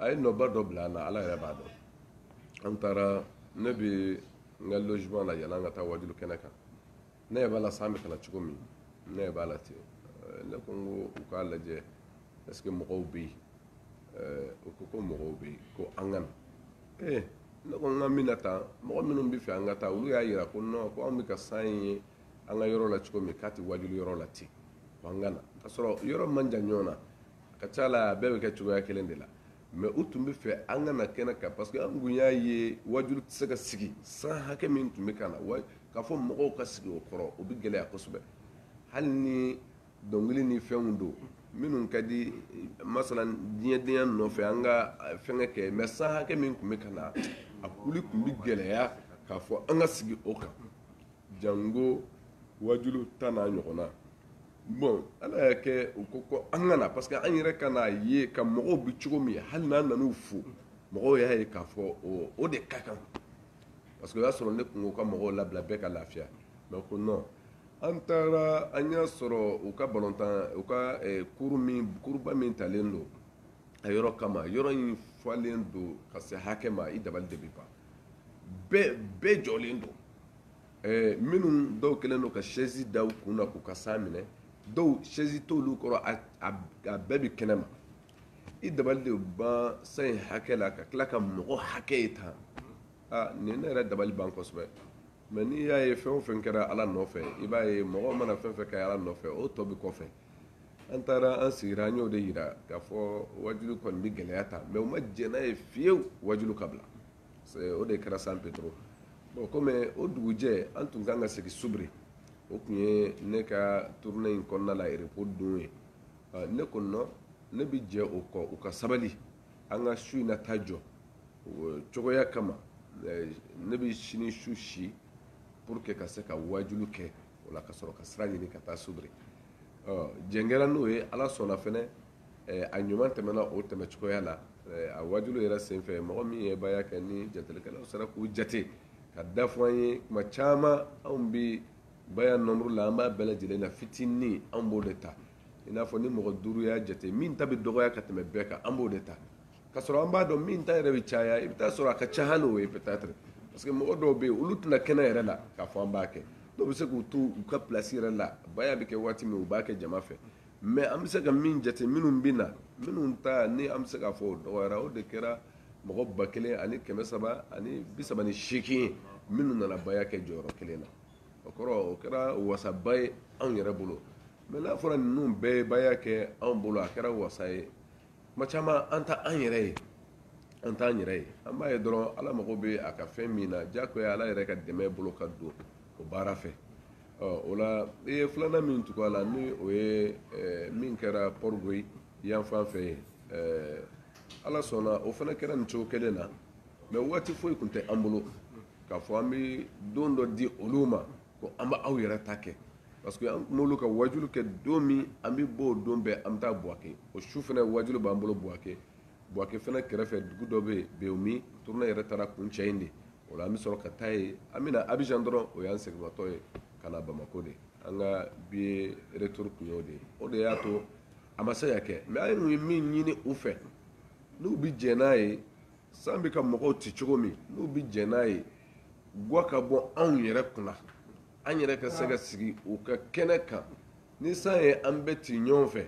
a ye nɔba dɔ bila an na ala yɛrɛ b'a dɔn an taara ne bɛ n ka logement la yann'an ka taa wajulu kɛnɛ kan ne yɛrɛ b'a la san bɛ ka na cogo min ne yɛrɛ b'a la ten ne ko n ko u k'a lajɛ est ce que mɔgɔw bɛ yen u ko ko mɔgɔw bɛ yen ko an ka na ee ne ko n ka min na tan mɔgɔ minnu b'a fɛ an ka taa olu y'a yira ko non ko anw bɛ ka san ye an ka yɔrɔ la cogo min k'a tɛ wajulu yɔrɔ la ten ko an ka na k'a sɔrɔ yɔrɔ man jan ɲɔgɔn na a ka ca la a bɛɛ bɛ kɛ cogoya kelen de la mɛ u tun b'a fɛ an ka na kɛnɛ kan parce que an kun y'a ye wajulu tɛ se ka sigi san hakɛ min tun bɛ ka na k'a fɔ mɔgɔw ka sigi o kɔrɔ o bɛ gɛlɛya kosɛbɛ hali ni dɔnkili ni fɛnw don minnu ka di masala diɲɛdenya nɔfɛ an ka fɛnkɛ kɛ mɛ san hakɛ min tun bɛ ka na a kɔni tun bɛ gɛlɛya k'a fɔ an ka sigi o kan jango wajulu tan n'a ɲɔgɔnna bon ala y'a kɛ u ko ko an ka na parce que an yɛrɛ ka n'a ye ka mɔgɔw bi cogo min hali n'an nan'u fo mɔgɔw y'a ye k'a fɔ o de ka kan parce que o y'a sɔrɔ ne kun ko ka mɔgɔw labila bɛɛ ka lafiya mɛ ko non an taara an y'a sɔrɔ u ka balontan u ka eh, kuru min kuruba min talen don a yɔrɔ kama yɔrɔ in falen don ka se hakɛ ma i dabali de bi ban bɛɛ bɛɛ jɔlen don Eh, minnu dɔw kɛlen don ka sɛzi da u kun na k'u ka san minɛ dɔw sɛzi t'olu kɔrɔ a bɛɛ bɛ kɛnɛ ma i dabali de ban san in hakɛ la ka tila ka mɔgɔ hakɛ ye tan nin ne yɛrɛ dabali banna kosɛbɛ mɛ n'i y'a ye fɛn o fɛn kɛra ala nɔfɛ i b'a ye mɔgɔ mana fɛn fɛn kɛ ala nɔfɛ o tɔ bɛ kɔfɛ an taara an sigira an y'o de yira k'a fɔ wajulu kɔni bɛ gɛlɛya tan mɛ u ma jɛn n'a ye fiyewu wajulu ka bila o de kɛra san pedro bon komi o dugujɛ an tun kan ka segin soubré o tun ye ne ka tournée in kɔnɔna la repos don ye ne ko non ne bɛ jɛn o kɔ u ka sabali an ka su in na ta jɔ cogoya kama ne bɛ sini su si pour que ka se ka wajulu kɛ o la ka sɔrɔ ka sira ɲini ka taa soubré jɛn kɛra n'o ye ala sɔnna fɛnɛ a ɲuman tɛmɛna o tɛmɛ cogoya la a wajulu yɛrɛ senfɛ mɔgɔ min ye baya kɛ ni jatelikɛlaw sera k'u jate k'a da fɔ an ye tuma caman anw bɛ baya nombre la an b'a bɛɛ lajɛlen na fitinin an b'o de ta i n'a fɔ ni mɔgɔ duuru y'a jate min ta bɛ dɔgɔya ka tɛmɛ bɛɛ kan an b'o de ta k'a sɔrɔ an b'a dɔn min ta yɛrɛ bɛ caya i bɛ t'a sɔrɔ a ka ca hali o ye peut-être parce que mɔgɔ dɔw bɛ yen olu tɛ na kɛnɛ yɛrɛ la k'a fɔ an b'a kɛ dɔw bɛ se k'u to u ka place yɛrɛ la baya bɛ kɛ waati min u b'a kɛ jama fɛ mɛ an bɛ se ka min jate minnu bɛ na minnu ta ni an bɛ se k'a fɔ o dɔgɔyara o de kɛra mɔgɔ ba kelen ani kɛmɛ saba ani bi saba ni seegin minnu nana baya kɛ jɔyɔrɔ kelen na o kɔrɔ o kɛra wasaba ye anw yɛrɛ bolo mɛ n'a fɔra ninnu bɛɛ ye baya kɛ anw bolo a kɛra wasa ye kuma caman an tɛ an yɛrɛ ye an t'an yɛrɛ ye an b'a ye dɔrɔn ala mago bɛ a ka fɛn min na jakoya ala yɛrɛ ka dɛmɛ bolo ka don o baara fɛ o la i ye filanan min tugu a la ni o ye min kɛra pɔrigoyi yanfan fɛ ye ala sɔnna o fana kɛra nin cogo kelen na mɛ waati foyi tun tɛ an bolo k'a fɔ an bɛ don dɔ di olu ma ko an bɛ aw yɛrɛ ta kɛ parce que an n'olu ka wajulu kɛ don min an bɛ bɔ o don bɛɛ an bɛ taa buwake o su fana wajulu b'an bolo buwake buwake fana kɛrɛfɛ dugu dɔ bɛ yen bewumi tournée yɛrɛ taara kuncɛ yen de o la an bɛ sɔrɔ ka taa yen an bɛ na abijan dɔrɔn o y'an seginnatɔ ye ka na bamakɔ de an ka billet retour tun y'o de ye o de y'a to a ma se ka kɛ mɛ an tun ye min ɲini u fɛ n'u bɛ jɛn n'a ye san bɛ ka mɔgɔw ci cogo min n'u bɛ jɛn n'a ye gwa ka bɔ anw yɛrɛ kunna an yɛrɛ ka se ka sigi u ka kɛnɛ kan ni san ye an bɛɛ ci ɲɔgɔn fɛ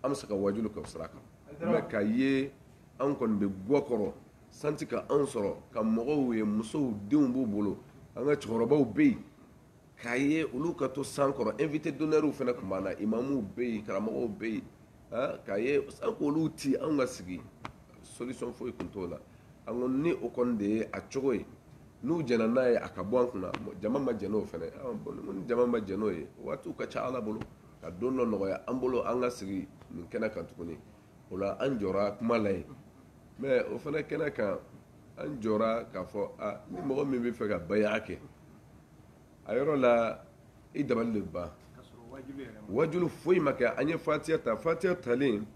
an bɛ se ka wajulu kɛ sira kan mɛ ka ye an kɔni bɛ gwa kɔrɔ san tɛ ka anw sɔrɔ ka mɔgɔw ye musow denw b'u bolo an ka cɛkɔrɔbaw bɛ yen k'a ye olu ka to san kɔrɔ invité d'honneur fana tun b'an na imamuw bɛ yen karamɔgɔw bɛ yen k'a ye san k'olu ti anw ka sigi solution foyi tun t'o la an ko ni o kɔni de ye a cogo ye n'u jɛnna n'a ye a ka bɔ an kunna jama ma jɛn n'o fana ni jama ma jɛn n'o ye waatiw ka ca ala bolo ka don dɔ nɔgɔya an bolo an ka sigi nin kɛnɛ kan tuguni o la an jɔra kuma la yen mɛ o fana kɛnɛ kan an jɔra k'a fɔ a ni mɔgɔ min b'a fɛ ka baya kɛ a yɔrɔ la i dabali de ban wajulu foyi ma kɛ an ye fatiya ta fatiya talen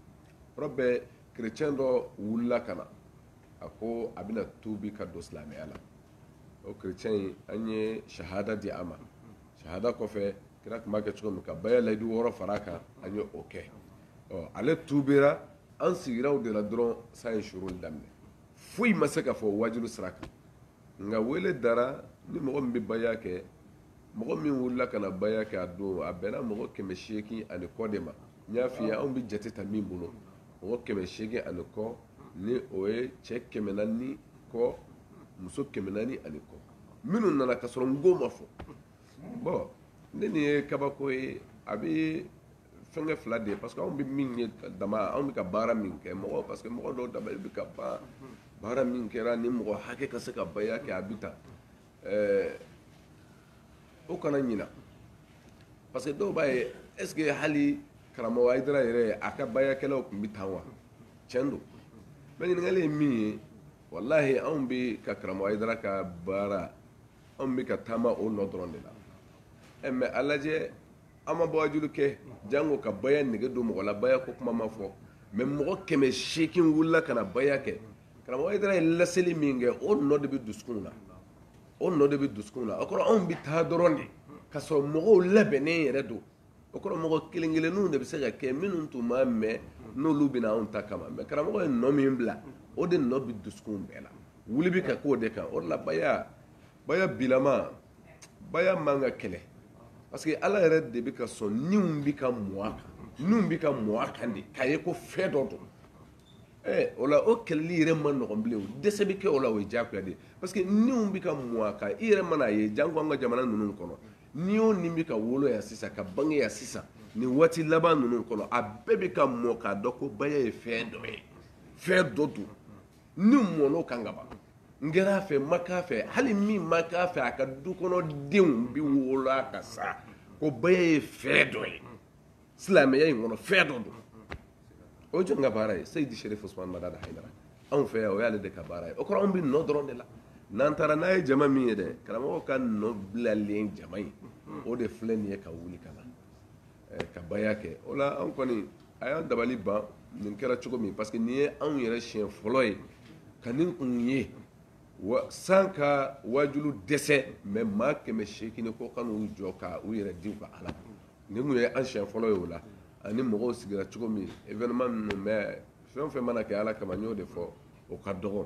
yɔrɔ bɛɛ kerecɛn dɔ wulila ka na a ko a bɛna tuubi ka don silamɛya la o kerecɛn in an ye sahada di a ma sahada kɔfɛ kira tun b'a kɛ cogo min ka baya layidu wɔɔrɔ fara a kan an ye o kɛ ɔ ale tuubira an sigira o de la dɔrɔn san ye suruli daminɛ foyi ma se ka fɔ wajulu sira kan nka wele dara ni mɔgɔ min bɛ baya kɛ mɔgɔ min wulila ka na baya kɛ a don a bɛnna mɔgɔ kɛmɛ seegin ani kɔ de ma n y'a f'i ye anw bɛ jate ta min bolo mɔgɔ kɛmɛ seegin ani kɔ ni o ye cɛ kɛmɛ naani ani kɔ muso kɛmɛ naani ani kɔ minnu nana ka sɔrɔ n ko ma fɔ bɔn ne nin ye kabako ye a bɛ fɛnkɛ fila de ye parce que anw bɛ min ye dama anw bɛ ka baara min kɛ mɔgɔ parce que mɔgɔ dɔw dama bɛ ka ban baara min kɛra ni mɔgɔ hakɛ ka se ka baya kɛ a bɛ ta ɛɛ o kana ɲina parce que dɔw b'a ye est ce que hali karamɔgɔ ayidara yɛrɛ a ka bayakɛlaw tun bɛ tan wa tiɲɛ don mɛ ɲininkali ye min ye walahi anw bɛ ka karamɔgɔ ayidara ka baara anw bɛ ka taama o nɔ dɔrɔn de la ɛ mɛ a lajɛ an ma bɔ wajulu kɛ janko ka baya nege don mɔgɔ la baya ko kuma ma fɔ mɛ mɔgɔ kɛmɛ seegin wulila ka na baya kɛ karamɔgɔ ayidara ye laseli min kɛ o nɔ de bɛ dusukunw na o nɔ de bɛ dusukunw na o kɔrɔ anw bɛ taa dɔrɔn de ka sɔrɔ mɔgɔw labɛnnen yɛrɛ don o kɔrɔ mɔgɔ kelen kelenninw de bɛ se ka kɛ minnu tun m'a mɛn n'olu bɛ na anw ta kama mɛ karamɔgɔ ye nɔ min bila o de nɔ bɛ dusukunw bɛɛ la wuli bɛ ka k'o de kan o de la baya baya bilama baya man ka kɛlɛ parce que ala yɛrɛ de bɛ ka sɔn niw bɛ ka mɔ a kan niw bɛ ka mɔ a kan de k'a ye ko fɛn dɔ don Eh, o la o kɛlɛli yɛrɛ man nɔgɔn bilen o dɛsɛ bɛ kɛ o la o ye diyagoya de ye parce que niw bɛ ka mɔ a kan i yɛrɛ mana a ye janko an ka jamana ninnu kɔnɔ ni o ni bɛ ka wolo yan sisan ka bange yan sisan nin waati laban ninnu kɔnɔ a bɛɛ bɛ ka mɔ k'a dɔn ko baya ye fɛn dɔ ye fɛn dɔ don ni mɔna o kan ka ban kɛra a fɛ ma k'a fɛ hali min ma k'a fɛ a ka du kɔnɔ denw bɛ wolo k'a sɔrɔ ko baya ye fɛn dɔ ye silamɛya in kɔnɔ fɛn dɔ don o ye jɔn ka baara ye seyidi serifu usumani madani ayidara anw fɛ o y'ale de ka baara ye o kɔrɔ anw bɛ nɔ dɔrɔn de la n'an taara n'a ye jama min ye dɛ karamɔgɔ ka nɔ bilalen jama ye o de filɛ nin ye ka wuli ka na ka baya kɛ o la an kɔni a y'an dabali ban nin kɛra cogo min parce que nin ye anw yɛrɛ siɲɛ fɔlɔ ye ka nin kun ye san ka wajulu dɛsɛ mɛ maa kɛmɛ seegin ko ka n'u jɔ ka u yɛrɛ di ka ala nin kun ye an siɲɛ fɔlɔ ye o la ani mɔgɔw sigira cogo min événement minnu bɛ fɛn o fɛn mana kɛ ala kama n y'o de fɔ o ka dɔgɔ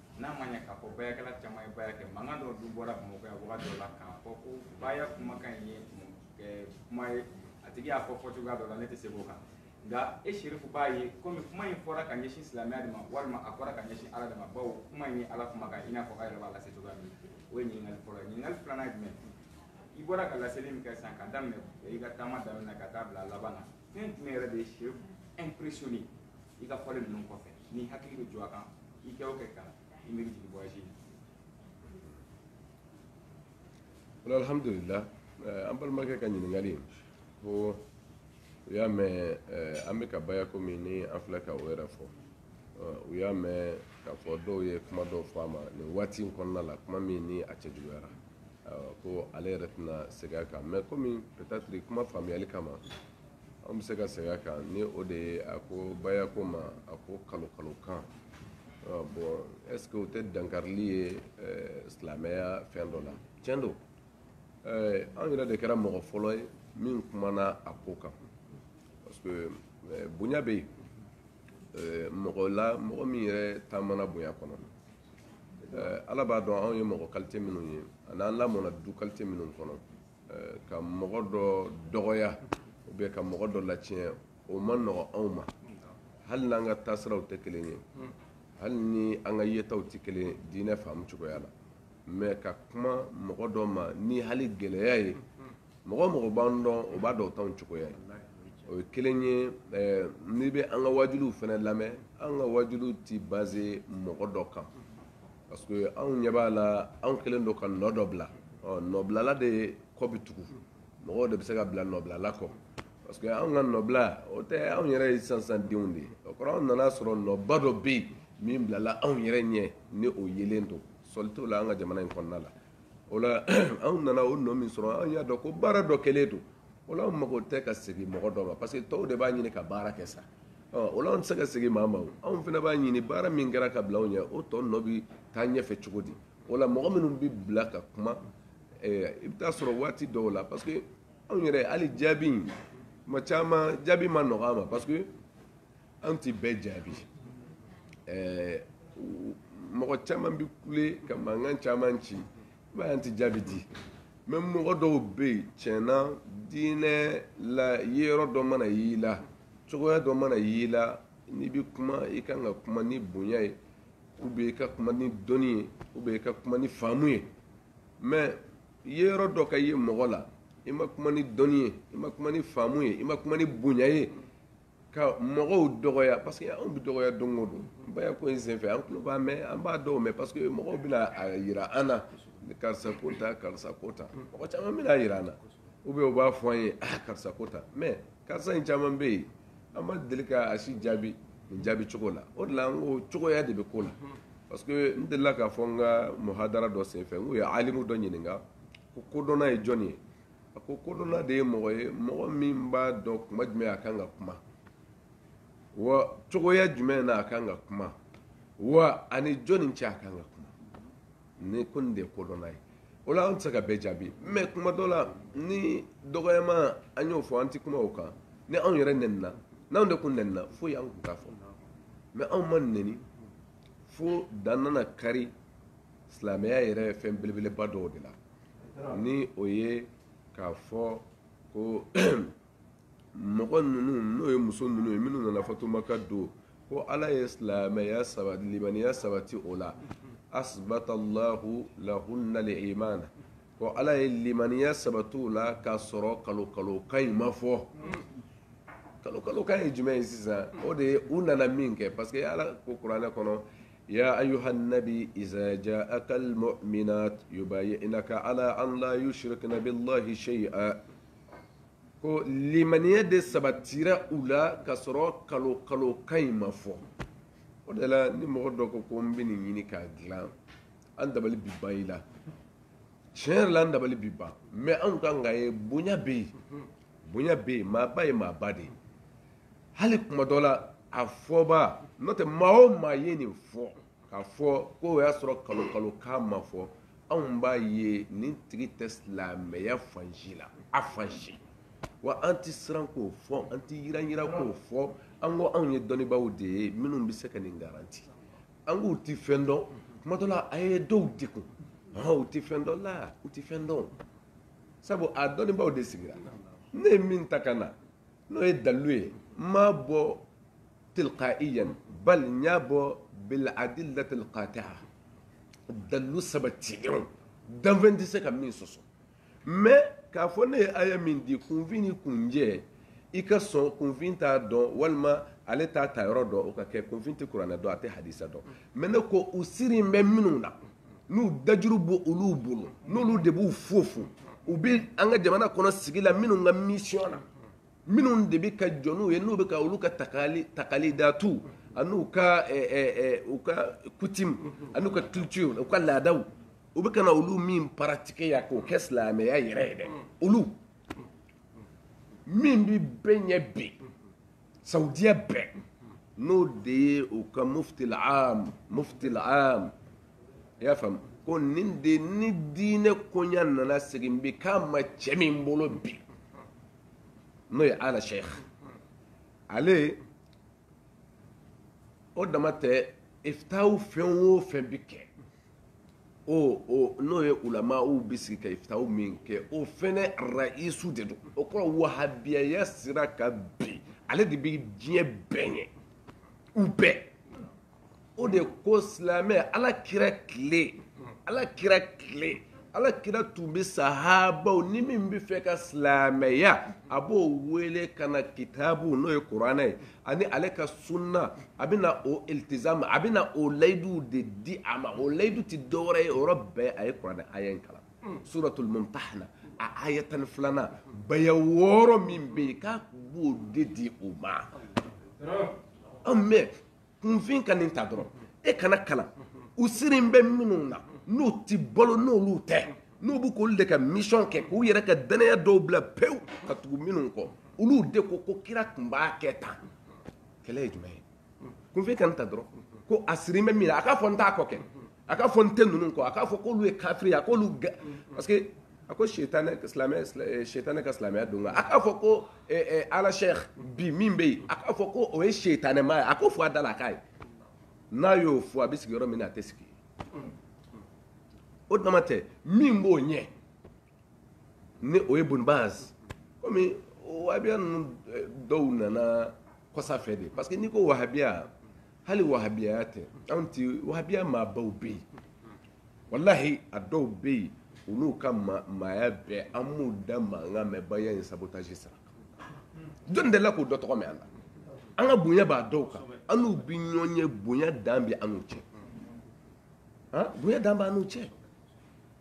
N'a ma ɲɛ k'a fɔ bayakɛla caman ye baya kɛ mankan dɔ dun bɔra Bamakɔ yan wagati dɔ la k'a fɔ ko baya kumakan in ye ɛɛ kuma ye a tigi y'a fɔ fɔcogoya dɔ la ne tɛ segin o kan nka e Serifu b'a ye komi kuma in fɔra ka ɲɛsin silamɛya de ma walima a fɔra ka ɲɛsin Ala de ma bawo kuma in ye Ala kumakan ye i n'a fɔ aw yɛrɛ b'a lase cogoya min o ye ɲininkali fɔlɔ ye ɲininkali filanan ye jumɛn i bɔra ka laseli min kɛ sisan ka daminɛ i ka taama daminɛ na ka taa bila a laban na fɛn jumɛn yɛrɛ de ye Serifu impressionné i ka fɔlen ninnu kɔfɛ ni hakili bɛ jɔ a kan i kɛ o kɛ ka i miiri jigin voyage in na alhamdulillah eh, an balimakɛ ka ɲininkali ko u y'a mɛn eh, an bɛ ka baya komi ni an filɛ ka o yɛrɛ fɔ eh, u y'a mɛn k'a fɔ dɔw ye kuma dɔw fɔ a ma nin waati in kɔnɔna la kuma min ni a cɛjuguyara ko ale yɛrɛ tɛna segin a kan mɛ komi peut-être kuma faamuyali kama an bɛ se ka segin a kan ni o de ye a ko bayako ma a ko kalo kalo kan bon est-ce que o tɛ dankarili ye silamɛya fɛn dɔ la tiɲɛ don an yɛrɛ de kɛra mɔgɔ fɔlɔ ye min kumana a ko kan parce que bonya bɛ yen mɔgɔ la mɔgɔ min yɛrɛ taamana bonya kɔnɔ ala b'a dɔn anw ye mɔgɔ kalite minnu ye ani an lamɔna du kalite minnu kɔnɔ ka mɔgɔ dɔ dɔgɔya ou bien ka mɔgɔ dɔ latiɲɛ o ma nɔgɔ anw ma hali n'an ka taasiraw tɛ kelen ye hali ni an ka yetaw tɛ kelen diinɛ faamu cogoya la mɛ ka kuma mɔgɔ dɔ ma ni hali gɛlɛya ye mɔgɔ o mɔgɔ b'an dɔn o b'a dɔn t'anw cogoya ye o ye kelen ye n'i bɛ an ka waajuliw fana lamɛn an ka waajuliw tɛ base mɔgɔ dɔ kan parce que anw ɲɛ b'a la anw kɛlen don ka nɔ dɔ bila ɔ nɔbilala de kɔ bɛ tugu mɔgɔw de bɛ se ka bila nɔbilala kɔ parce que anw ka nɔbila o tɛ anw yɛrɛ ye sansan denw de ye o kɔrɔ anw nana sɔrɔ nɔba dɔ bɛ yen min bilala anw yɛrɛ ɲɛ ni o yelen don sɔsɔli t'o la an ka jamana in kɔnɔna la o la anw nana o nɔ min sɔrɔ an y'a dɔn ko baara dɔ kɛlen don o la anw mago tɛ ka segin mɔgɔ dɔ ma parce que tɔw de b'a ɲini ka baara kɛ sa o la anw tɛ se ka segin maa ma o anw fana b'a ɲini baara min kɛra ka bila anw ɲɛ o tɔ nɔ bɛ taa ɲɛfɛ cogo di o la mɔgɔ minnu bɛ bila ka kuma i bɛ taa sɔrɔ waati dɔw la parce que anw yɛrɛ hali jaabi in kuma caman jaabi ma nɔgɔ an ma parce que an tɛ bɛɛ jaabi ɛɛ mɔgɔ caman bɛ kule ka mankan caman ci i b'a ye an tɛ jaabi di mɛ mɔgɔ dɔw bɛ yen tiɲɛna diinɛ la ye yɔrɔ dɔ mana y'i la cogoya dɔ mana y'i la n'i bɛ kuma i kan ka kuma ni bonya ye ou bien i ka kuma ni dɔnni ye ou bien i ka kuma ni faamu ye mɛ ye yɔrɔ dɔ ka ye mɔgɔ la i ma kuma ni dɔnni ye i ma kuma ni faamu ye i ma kuma ni bonya ye ka mɔgɔw dɔgɔya parce que anw bɛ dɔgɔya don o don baya ko in senfɛ an tulo b'a mɛn an b'a dɔw mɛn parce que mɔgɔw bɛna a yira an na karisa ko tan karisa ko tan mɔgɔ caman bɛna a yira an na ou bien u b'a fɔ an ye ah karisa ko tan mais karisa in caman bɛ yen an ma deli ka a si jaabi nin jaabi cogo la o de la an ko cogoya de bɛ ko la parce que n delila k'a fɔ n ka muhadara dɔ senfɛ n k'u ye alimu dɔ ɲininka ko kodɔnna ye jɔn ye a ko kodɔnna de ye mɔgɔ ye mɔgɔ min b'a dɔn kuma jumɛn a kan ka kuma wa cogoya jumɛn na a kan ka kuma wa ani jɔni cɛ a kan ka kuma ni ko nin de ye kodɔnna ye o la an tɛ se ka bɛɛ jaabi mɛ kuma dɔ la ni dɔgɔyama an y'o fɔ an tɛ kuma o kan ni anw yɛrɛ nɛnina n'anw de kun nɛnina foyi an kun t'a fɔ mɛ anw ma nɛni fo dan nana kari silamɛya yɛrɛ fɛn belebeleba dɔw de la ni o ye k'a fɔ ko mɔgɔ ninnu n'o ye muso ninnu ye minnu nana fatu Maka don ko ala ye silamɛya saba limaniya sabati o la asbatallahu lahunna liimana ko ala ye limaniya sabati u la k'a sɔrɔ kalo kalo kan in ma fɔ kalo kalo kan ye jumɛn ye sisan o de ye u nana min kɛ parce que ala ko kuranɛ kɔnɔ Ya ayuha nabi iza jaaka al mu'minat yubayi'naka ala an la yushrikna billahi shay'a ko limaniya de sabatira u la k'a sɔrɔ kalo kalo kan in ma fɔ o de la ni mɔgɔ dɔ ko ko n bɛ nin ɲini k'a dilan an dabali bi ban i la tiɲɛ yɛrɛ la an dabali bi ban mɛ anw kan k'a ye bonya bɛ yen bonya bɛ yen maaba ye maaba de ye hali kuma dɔ la a fɔbaa n'o tɛ maa o maa ye nin fɔ k'a fɔ ko o y'a sɔrɔ kalo kalo kan ma fɔ anw b'a ye nin tigi tɛ silamɛya fan si la a fan si wa an tɛ siran k'o fɔ an tɛ yiranyiran ah. k'o fɔ an ko anw ye dɔnnibaaw de ye minnu bɛ se ka nin garanti an k'u tɛ fɛn dɔn kuma dɔ la a ye dɔw degun u tɛ fɛn dɔn la u tɛ fɛn dɔn sabu a dɔnnibaaw de sigira ne ye min ta ka na n'o ye dalilu ye n m'a bɔ tilqaiyan bal n y'a bɔ biladillati lqatia dalilu sabatilenw danfɛn tɛ se ka min sɔsɔ mɛ k'a fɔ ne ye aya min di kunfin ni kunjɛ i ka sɔn kunfin t'a dɔn walima ale t'a tayɔrɔ dɔn o ka kɛ kunfin tɛ kuranɛ dɔn a tɛ hadisa dɔn mɛ ne ko u sirilen bɛ minnu na n'u dajuru b'olu bolo n'olu de b'u fofo u bɛ an ka jamana kɔnɔ sigi la minnu ka mission na minnu de bɛ ka jɔ n'u ye n'u bɛ ka olu ka takali takalidatu an'u ka eh, eh, eh, u ka coutume an'u ka culture u ka laadaw u bɛ ka na olu min paratike yan k'o kɛ silamɛya yɛrɛ ye dɛ olu min bɛ bɛɛ ɲɛ bi Saudiya bɛɛ n'o de ye u ka mufiti l'aam mufiti l'aam i y'a faamu ko nin de ni diinɛ koɲa nana segin bi k'a ma cɛ min bolo bi n'o ye Al Sheikh ale o dama tɛ ifitaw fɛn o fɛn bi kɛ o n'o ye ulama u bɛ sigi ka iftau min kɛ o fana raisu de don o kɔrɔ wahabiyaya sira kan bi ale de bɛ diɲɛ bɛɛ ɲɛ u bɛɛ o de ko silamɛya ala kira tile ala kira tile ala kira tun bɛ sahabaw ni min bɛ fɛ ka silamɛya a b'o wele ka na kitabu n'o ye kuranɛ ye ani ale ka sunna a bɛ na o iltizamu a bɛ na o layiduw de di a ma o layidu tɛ dɔwɛrɛ ye yɔrɔ bɛɛ a ye kuranɛ aya in kalan suratul mumtahana aya tan ni filanan baya wɔɔrɔ min bɛ yen k'a b'o de di o ma an mɛ kunfin ka nin ta dɔrɔn e kana kalan u sirin bɛ minnu na n'u tɛ balo n'olu tɛ n'u bɛ k'olu de ka mission kɛ k'u yɛrɛ ka dannaya dɔw bila pewu ka tugu minnu kɔ olu de ko ko kira tun b'a kɛ tan kɛlɛ ye jumɛn ye kunfin kan ta dɔrɔn ko a sirin bɛ min na a k'a fɔ n t'a kɔ kɛ a k'a fɔ n tɛ ninnu kɔ a k'a fɔ k'olu ye kafiri ye a k'olu gɛ parce que a ko sitanɛ silamɛ sitanɛ ka silamɛya don a k'a fɔ ko al cheikh bi min bɛ yen a k'a fɔ ko o ye sitanɛma ye a ko fɔ a da la a k'a ye n'a y'o fɔ a bɛ sigi yɔrɔ min na a tɛ sigi o dama tɛ min b'o ɲɛ ni o ye bun baz komi wahabiya ninnu eh, dɔw nana kɔsa fɛ de parce que n'i ko wahabiya hali wahabiyaya tɛ anw ti wahabiya maabaw bɛ yen walahi a dɔw bɛ yen olu ka maaya bɛɛ an m'u da mankan mɛn baya in sabotage sara jɔni delila k'o dɔ tɔgɔ mɛn an na an ka bonya b'a dɔw kan an n'u bɛ ɲɔgɔn ye bonya dan bɛ an n'u cɛ bonya dan b'an n'u cɛ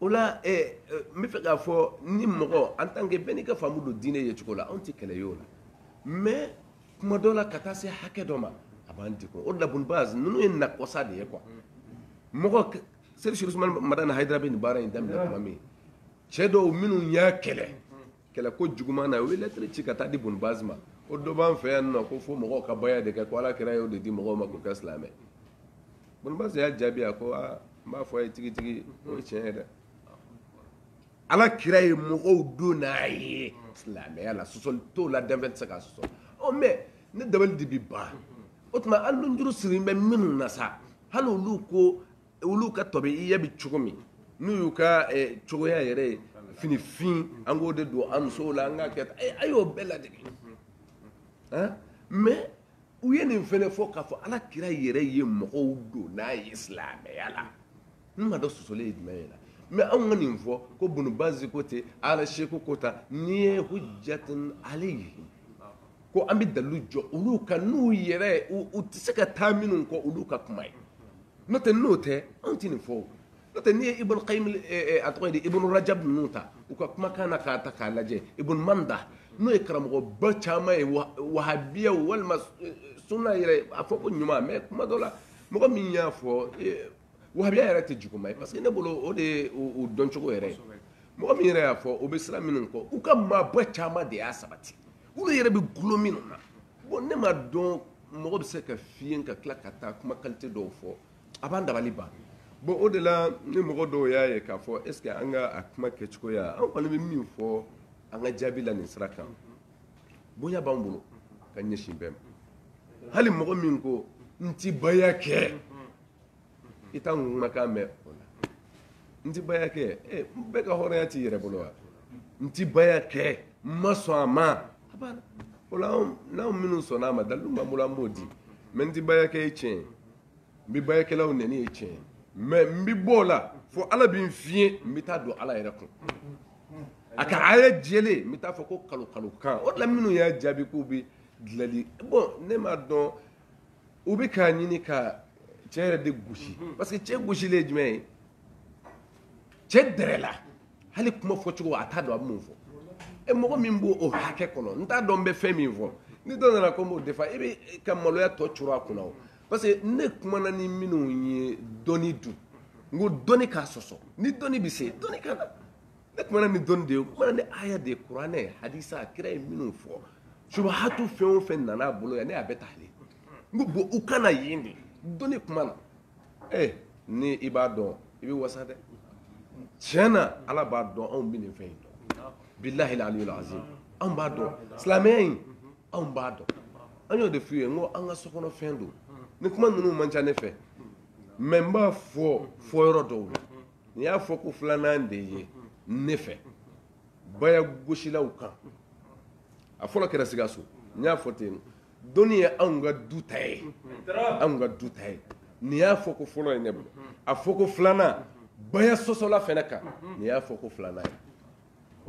o la eh, eh, n bɛ fɛ k'a fɔ ni mɔgɔ an tant que bɛɛ n'i ka faamu don diinɛ ye cogo la anw tɛ kɛlɛ ye o la mais kuma dɔ la ka taa se hakɛ dɔ ma a b'an degun o de la bun baz ninnu ye na kɔsa de ye quoi mɔgɔ serifu usumani madani hayidara bɛ nin baara in daminɛ tuma min cɛ dɔw minnu y'a kɛlɛ kɛlɛ ko juguman na u ye lɛtiri ci ka taa di bun baz ma ko dɔ b'an fɛ yan nɔ ko fo mɔgɔw ka baya de kɛ ko ala kira y'o de di mɔgɔw ma k'u kɛ silamɛ bun baz y'a jaabi a ko aa n b'a fɔ a ye tigitigi o ye tiɲɛ ye dɛ ala kira ye mɔgɔw don n'a ye silamɛya la sɔsɔli t'o la danfɛn tɛ se k'a sɔsɔ ɔ mɛ ne dabali de bi ban o tuma hali nunjuru sirilen bɛ minnu na sa hali olu ko olu ka tɔbi i bɛ cogo min n'u y'u ka eh, cogoya yɛrɛ ye fini fin an k'o de don an musow la an ka kɛ eh, a y'o bɛɛ ladege mɛ u ye nin fɛnɛ fɔ k'a fɔ ala kira yɛrɛ ye mɔgɔw don n'a ye silamɛya la n m'a dɔn sɔsɔli ye jumɛn ye la mɛ anw ka nin fɔ ko bun bazi ko tɛ al cheikh ko tɛ nin ye hujjatun alayhim ko an bɛ dalu jɔ olu ka n'u yɛrɛ u tɛ se ka taa minnu kɔ olu ka kuma ye n'o tɛ n'o tɛ anw tɛ nin fɔ n'o tɛ n'i ye i boloja i boloja ninnu ta u ka kumakan na k'a ta k'a lajɛ i boloman da n'o ye karamɔgɔba caman ye wabiya walima suna yɛrɛ a fɔ ko ɲuman bɛ kuma dɔ la mɔgɔ min y'a fɔ wabiya yɛrɛ tɛ juguman ye parce que ne bolo o de dɔncogo yɛrɛ mɔgɔ min yɛrɛ y'a fɔ o bɛ siran minnu kɔ u ka maaba caman de y'a sabati olu yɛrɛ bɛ kulu minnu na bon ne m'a dɔn mɔgɔ bɛ se ka fiɲɛ ka tila ka taa kuma kalite dɔw fɔ a bɛ n dabali ban bon o de la ni mɔgɔ dɔw y'a ye k'a fɔ est-ce que an ka a kuma kɛcogoya an kɔni bɛ min fɔ an ka jaabi la nin sira kan bonya b'an bolo ka ɲɛsin bɛɛ ma hali mɔgɔ min ko n ti baya kɛ i t'an kumakan mɛn o la n ti baya kɛ ee n bɛɛ ka hɔrɔnya t'i yɛrɛ bolo wa n ti baya kɛ n ma sɔn a ma a banna o la n'anw minnu sɔnna a ma dalilu b'an bolo an b'o di mais n ti baya kɛ ye tiɲɛ ye n bɛ bayakɛlaw nɛni ye tiɲɛ ye mais n bɛ bɔ o la fo ala bɛ n fiɲɛ n bɛ taa don ala yɛrɛ kun a ka aya jɛlen n bɛ taa fɔ ko kalo kalo kan o de la minnu y'a jaabi k'u bɛ dalilu bon ne m'a dɔn u bɛ k'a ɲini ka cɛ yɛrɛ de gosi mhm. parce que cɛ gosilen ye jumɛn ye cɛ dɛrɛ la hali kuma fɔcogo a t'a dɔn a bɛ mun fɔ e mɔgɔ min b'o o hakɛ kɔnɔ n t'a dɔn n bɛ fɛn min fɔ ni dɔ nana ko n b'o defa i bɛ ka maloya tɔ coro a kunna o parce que ne kumana ni minnu ye dɔnni dun n ko dɔnni k'a sɔsɔ ni dɔnni bɛ se dɔnni ka na ne kumana ni dɔnni de ye kumana ni aya de ye kuranɛ hadisa kira ye minnu fɔ subuhatu fɛn o fɛn nana a bolo yan ne y'a bɛɛ ta ale n ko bon u kana yen de dɔnni kuma na ee eh, ni i b'a dɔn i bɛ wasa dɛ tiɲɛ na ala b'a dɔn anw bɛ nin fɛn in dɔn bilahi aliyul azim anw b'a dɔn silamɛya in anw b'a dɔn an y'o de f'u ye n ko an ka sokɔnɔ fɛn don ni kuma ninnu man ca ne fɛ mais n b'a fɔ fɔ yɔrɔ dɔw la n y'a fɔ ko filanan de ye ne fɛ baya gosilaw kan a fɔlɔ kɛra sikaso n y'a fɔ ten dɔnni ye anw ka du ta ye anw ka du ta ye nin y'a fɔ ko fɔlɔ ye ne bolo a fɔ ko filanan baya sɔsɔlaw fɛnɛ kan nin y'a fɔ ko filanan ye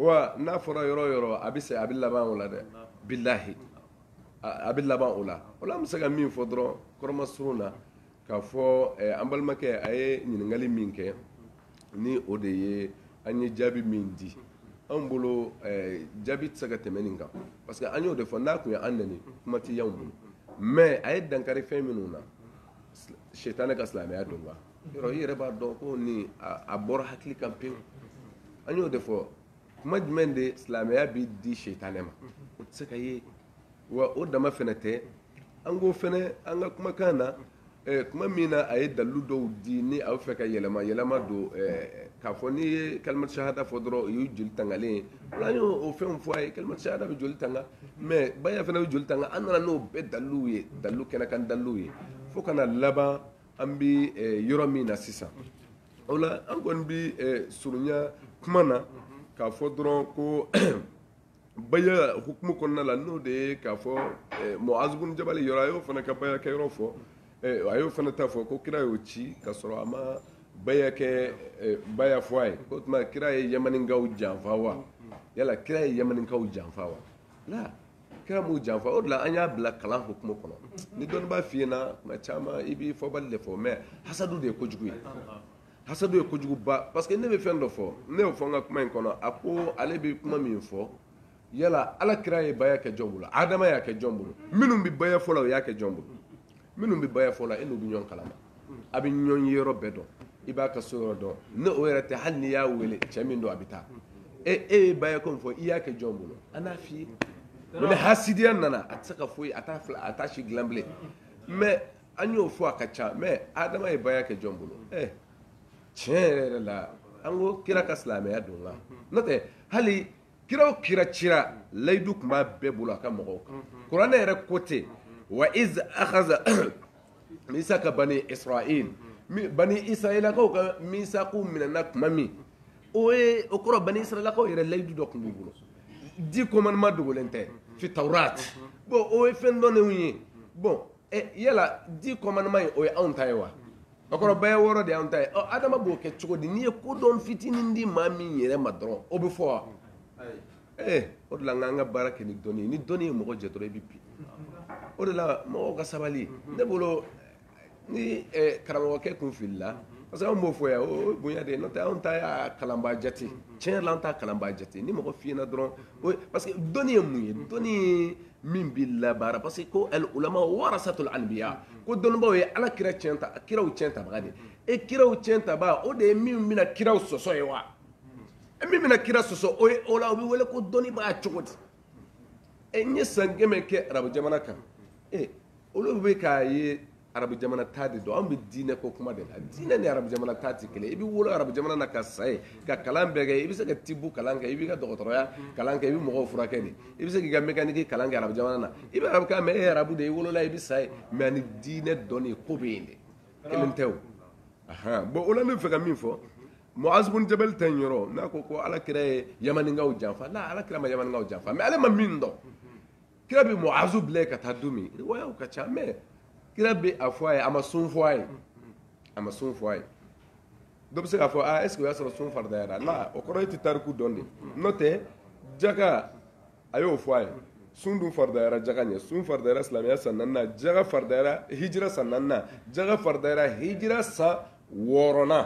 wa n'a fɔra yɔrɔ o yɔrɔ a bɛ se a bɛ laban o la dɛ bilahi a bɛ laban o la o la an bɛ se ka min fɔ dɔrɔn kɔrɔmasurun na k'a fɔ eh, an balimakɛ a ye ɲininkali min kɛ ni o de ye an ye jaabi min di anw bolo eh, jaabi tɛ se ka tɛmɛ nin kan parce que an y'o de fɔ n'a tun ye an nɛni kuma tɛ anw bolo mais a ye dankari fɛn minnu na sitane ka silamɛya don kan yɔrɔ i yɛrɛ b'a dɔn ko nin a bɔra hakili kan pewu an y'o de fɔ kuma jumɛn de silamɛya bɛ di sitane ma o tɛ se ka ye wa o dama fana tɛ an ko fana an ka kumakan na eh, tuma min na a ye dalilu dɔw di ni a bɛ fɛ ka yɛlɛma yɛlɛma don eh, k'a fɔ n'i ye kalimatu sahada fɔ dɔrɔn o ye joli tangalen ye an y'o o fɛnw fɔ a ye kalimatu sahada bɛ joli tanga mɛ baya fana bɛ joli tanga an nana n'o bɛɛ daliluw ye dalilu kɛnɛkan daliluw ye fo ka na laban an bɛ eh, yɔrɔ min na sisan o la an kɔni bɛ surunya kuma na k'a fɔ dɔrɔn ko baya hukumu kɔnɔna la n'o de ye k'a fɔ eh, muaz bun jabali yɔrɔ a y'o fana ka baya kɛ yɔrɔ fɔ eh, a y'o fana ta fɔ ko kira y'o ci ka sɔrɔ a ma baya kɛ eh, baya fɔ a ye o tuma kira ye yamaninkaw janfa wa yala kira ye yamaninkaw janfa wa ala kira m'u janfa o de la an y'a bila kalan hukumu kɔnɔ ni dɔnnibaa fiyena tuma caman i b'i fɔbali de fɔ mɛ hasadu de ye kojugu ye hasadu ye kojuguba parce que ne bɛ fɛn dɔ fɔ ne y'o fɔ n ka kuma in kɔnɔ a ko ale bɛ kuma min fɔ yala ala kira ye baya kɛ jɔn bolo adama y'a kɛ jɔn bolo minnu bɛ baya fɔ la o y'a kɛ jɔn bolo minnu bɛ baya fɔ la e n'u bɛ ɲɔgɔn kalama a bɛ ɲɔgɔn ye yɔrɔ bɛɛ dɔn i b'a ka so yɔrɔ dɔn ne o yɛrɛ tɛ hali n'i y'a wele cɛ min don a bɛ taa e e ye baya ko min fɔ i y'a kɛ jɔn bolo an n'a f'i ye ni hasidiya nana a tɛ se ka foyi a t'a fila a t'a si dilan bilen mɛ an y'o fɔ a ka ca mɛ adama ye baya kɛ jɔn bolo ɛ tiɲɛ yɛrɛ yɛrɛ la an ko kira ka silamɛya don la n'o tɛ hali kira o kira cira layidu tun b'a bɛɛ bolo a ka mɔgɔw kan kuranɛ yɛrɛ ko ten wa iz akhazna misaka bani israil bani israilakaw ka misaku minɛna tuma min o ye o kɔrɔ bani israilakaw yɛrɛ layidu dɔ tun b'u bolo dix commandements dogolen tɛ fi tawrat bon o ye fɛn dɔnnenw ye bon ɛ yala dix commandements ye o ye anw ta ye wa bakuruba ye wɔɔrɔ de y'an ta ye ɔ adama b'o kɛ cogo di n'i ye kodɔn fitinin di maa min yɛrɛ ma dɔrɔn o bɛ fɔ wa ee o de la n k'an ka baara kɛ ni dɔnni ye ni dɔnni ye mɔgɔ jɛ dɔrɔn i bɛ bin o de la mɔgɔw ka sabali ne bolo ni karamɔgɔkɛ kun filila parce que anw b'o fɔ yan o bonya de ye n'o tɛ anw ta y'a kalanbaa jate tiɲɛ yɛrɛ la an t'a kalanbaa jate ni mɔgɔ fiyɛna dɔrɔn parce que dɔnni ye mun ye dɔnni min bɛ labaara parce que ko al ulama warasatul anbiya ko dɔnnibaaw ye ala kiraw ciyɛn tabaga de ye kiraw ciyɛn tabaga o de ye min bɛna kiraw sɔsɔ ye wa e min bɛna kira sɔsɔ o ye o la o bɛ wele ko dɔnnibaa cogo di e n'i ye san kɛmɛ kɛ arabu jamana kan e olu bɛ k'a ye arabu jamana taa de don an bɛ diinɛ ko kuma de la diinɛ ni arabu jamana taa tɛ kelen i bɛ wolo arabu jamana na ka sa yen ka kalan bɛɛ kɛ i bɛ se ka tibu kalan kɛ i b'i ka dɔgɔtɔrɔya kalan kɛ i bɛ mɔgɔw furakɛ de i bɛ se k'i ka mécanique kalan kɛ arabu jamana na i bɛ arabu kan mɛ e ye arabu de ye i wolola i bɛ sa yen mɛ ani diinɛ dɔnni ko bɛ yen de kelen tɛ o ahan bon o la n bɛ fɛ ka min fɔ Muaz bin Jabal ta in yɔrɔ n'a ko ko ala kira ye yamaninkaw janfa nka ala kira ma yamaninkaw janfa mɛ ale ma min dɔn kira bɛ muazu bila yen ka taa don min riwayaw ka ca mais kira bɛ a fɔ a ye a ma sun fɔ a ye a ma sun fɔ a ye dɔ bɛ se k'a fɔ aa est ce que o y'a sɔrɔ sun faridayara la o kɔrɔ e tɛ tariku dɔn de n'o tɛ jaka a y'o fɔ a ye sun dun faridayara jaka ɲɛ sun faridayara silamɛya san naaninan jaka faridayara hijira san naaninan jaka faridayara hijira san wɔɔrɔnan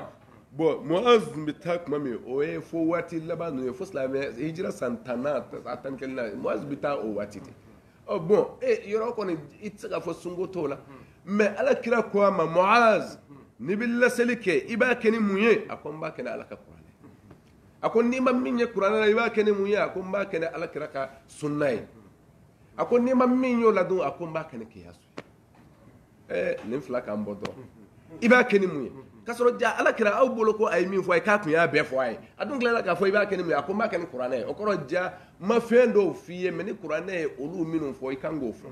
bon muaz bɛ taa tuma min o ye fo waati laban ninnu ye fo silamɛ hijira san tanna a tan kelen na muaz bɛ taa o waati de ɔ bon e yɔrɔ kɔni i tɛ se k'a fɔ sunko t'o la mais ala kira ko a ma muaz n'i bɛ laseli kɛ i b'a kɛ ni mun ye a ko n b'a kɛ ni ala ka kuranɛ a ko n'i ma min ye kuranɛ la i b'a kɛ ni mun ye a ko n b'a kɛ ni ala kira ka sunna ye a ko n'i ma min y'o la dun a ko n b'a kɛ ni kiyasu ye ɛɛ nin fila k'an bɔ dɔrɔn i b'a kɛ ni mun ye k'a sɔrɔ ja ala kira aw bolo ko a ye min fɔ a ye k'a tun y'a bɛɛ fɔ a ye a dun tilala k'a fɔ i b'a kɛ ni mun ye a ko n b'a kɛ ni kuranɛ ye o kɔrɔ ja ma fɛn dɔw f'i ye mais ni kuranɛ ye olu minnu fɔ i kan k'o fɔ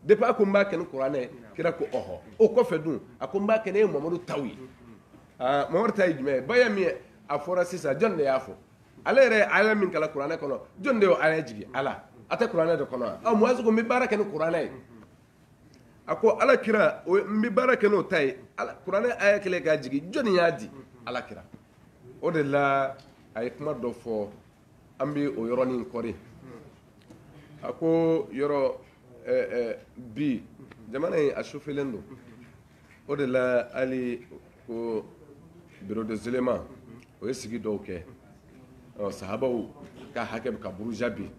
depuis a ko n b'a kɛ ni kuranɛ ye kira ko ɔhɔ o kɔfɛ dun a ko n b'a kɛ n'e mamadu taw ye mamadu ta ye jumɛn ye ba ye min ye a fɔra sisan jɔni de y'a fɔ ale yɛrɛ ye aya min kalan kuranɛ kɔnɔ jɔn de y'o aya jigin ala a tɛ kuranɛ de kɔnɔ wa ɔ muwazi ko n bɛ baara kɛ ni kuranɛ ye a ko ala kira n bɛ baara kɛ n'o ta ye kuranɛ aya kelen k'a jigin jɔnni y'a di ala kira o de la a ye kuma dɔ fɔ an bɛ o yɔrɔnin kɔri a ko yɔrɔ bi jamana in a sufelen don o de la hali ko bureau des oulémas o ye sigi dɔw kɛ sahabaw ka hakɛ bɛ ka buruja bi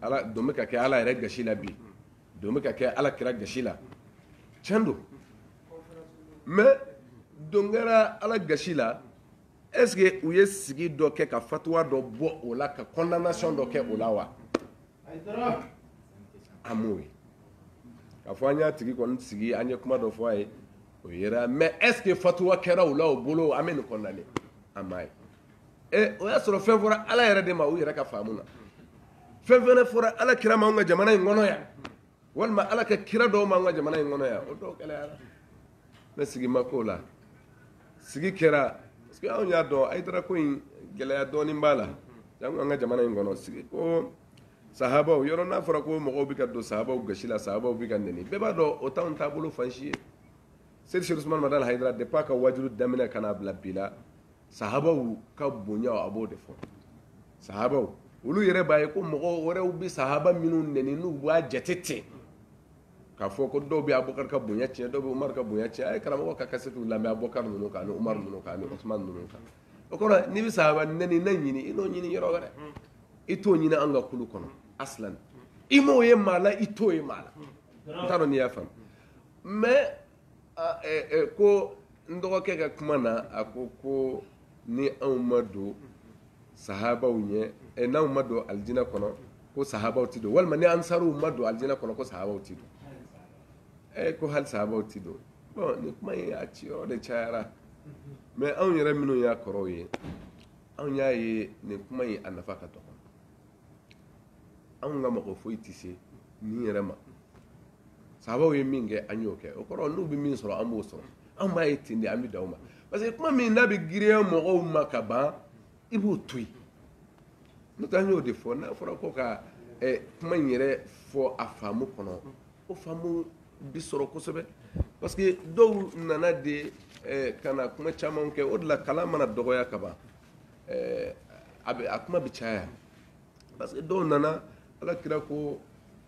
ala don bɛ ka kɛ ala yɛrɛ gasi la bi don bɛ ka kɛ ala kira gasi la tiɲɛ don mais don kɛra ala gasi la est ce que u ye sigi dɔ kɛ ka fatuwa dɔ bɔ o la ka condamnation dɔ kɛ o la wa an m'o ye k'a fɔ an y'a tigi kɔni sigi an ye kuma dɔ fɔ a ye o yɛrɛ mais est ce que fatuwa kɛra u la o bolo an bɛ nin kɔnɔnalen an m'a ye ɛ o y'a sɔrɔ fɛn fɔra ala yɛrɛ de ma u yɛrɛ ka faamu na fɛn fɛnɛ fɔra ala kira ma an ka jamana in kɔnɔ yan walima ala ka kira dɔw ma an ka jamana in kɔnɔ yan o dɔw gɛlɛyara ne sigi ma k'o la sigi kɛra parce que anw y'a dɔn hayidara ko in gɛlɛya dɔɔnin b'a la janko an ka jamana in kɔnɔ sigi ko sahabaw yɔrɔ n'a fɔra ko mɔgɔw bɛ ka don sahabaw gasi la sahabaw bɛ ka nɛni bɛɛ b'a dɔn o t'anw taabolo fan si ye seydi seydi usumani madani hayidara depuis a ka wajulu daminɛ ka n'a bila bi la sahabaw ka bonya a b'o de fɔ sahabaw olu yɛrɛ b'a ye ko mɔgɔ wɛrɛw bɛ sahaba minnu nɛni n'u b'a jate ten k'a fɔ ko dɔw bɛ abubakar ka bonya tiɲɛ dɔw bɛ umar ka bonya tiɲɛ a ye karamɔgɔ ka kasɛtiw lamɛn abubakar ninnu kan ani umar ninnu kan ani usman ninnu kan o kɔrɔ n'i bɛ sahaba nɛnina ɲini i n'o ɲini yɔrɔ wɛrɛ i t'o ɲini an ka kulu kɔnɔ asilan i m'o ye maa la i t'o ye maa la n t'a dɔn n'i y'a faamu mais ko n dɔgɔkɛ ka kuma na a ko ko ni anw ma don sahabaw ɲɛ eh, n'anw ma don alijinɛ kɔnɔ ko sahabaw ti don walima ni ansariw ma don alijinɛ kɔnɔ ko sahabaw ti don eh, ko hali sahabaw ti don bon ni kuma ye a ciyɔrɔ de cayara mais anw yɛrɛ minnu y'a kɔrɔw ye anw y'a ye nin kuma in a nafa ka dɔgɔ anw ka mɔgɔ foyi tɛ se nin yɛrɛ ma sahabaw ye min kɛ an y'o kɛ o kɔrɔ n'u bɛ min sɔrɔ an b'o sɔrɔ an b'a ye ten de an bɛ dan o ma parce que kuma min n'a bɛ girinya mɔgɔw ma ka ban i b'o to yen n'o tɛ an y'o de fɔ n'a fɔra ko ka kuma in yɛrɛ fɔ a faamu kɔnɔ O faamu bi sɔrɔ kosɛbɛ parce que dɔw nana de eh, ka na kuma caman kɛ o de la kalan mana dɔgɔya ka ban eh, a bɛ a kuma bɛ caya parce que dɔw nana ala kira ko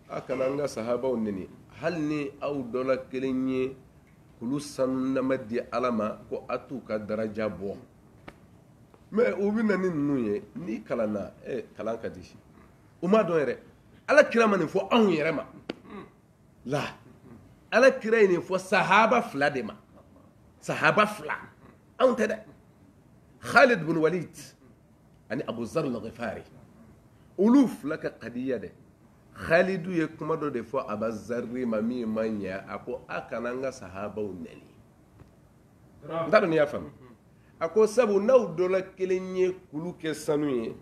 a kana n ka sahabaw neni hali ni aw dɔla kelen ye kulu sanunama di ala ma ko a t'u ka daraja bɔ mais u bɛ na ni ninnu ye n'i kalanna eh, kalan ka di u m'a dɔn yɛrɛ ala kira ma nin fɔ anw yɛrɛ ma la ala kira ye nin fɔ sahaba fila de ma sahaba fila anw tɛ dɛ khalid bin walid ani abu zar lagifari olu fila ka kadiya dɛ khalidu ye kuma dɔ de fɔ aba zarri ma min ma ɲɛ a ko a kana n ka sahabaw nɛni n t'a dɔn n'i y'a faamu a ko sabu n'aw dɔla kelen ye kulu kɛ sanu ye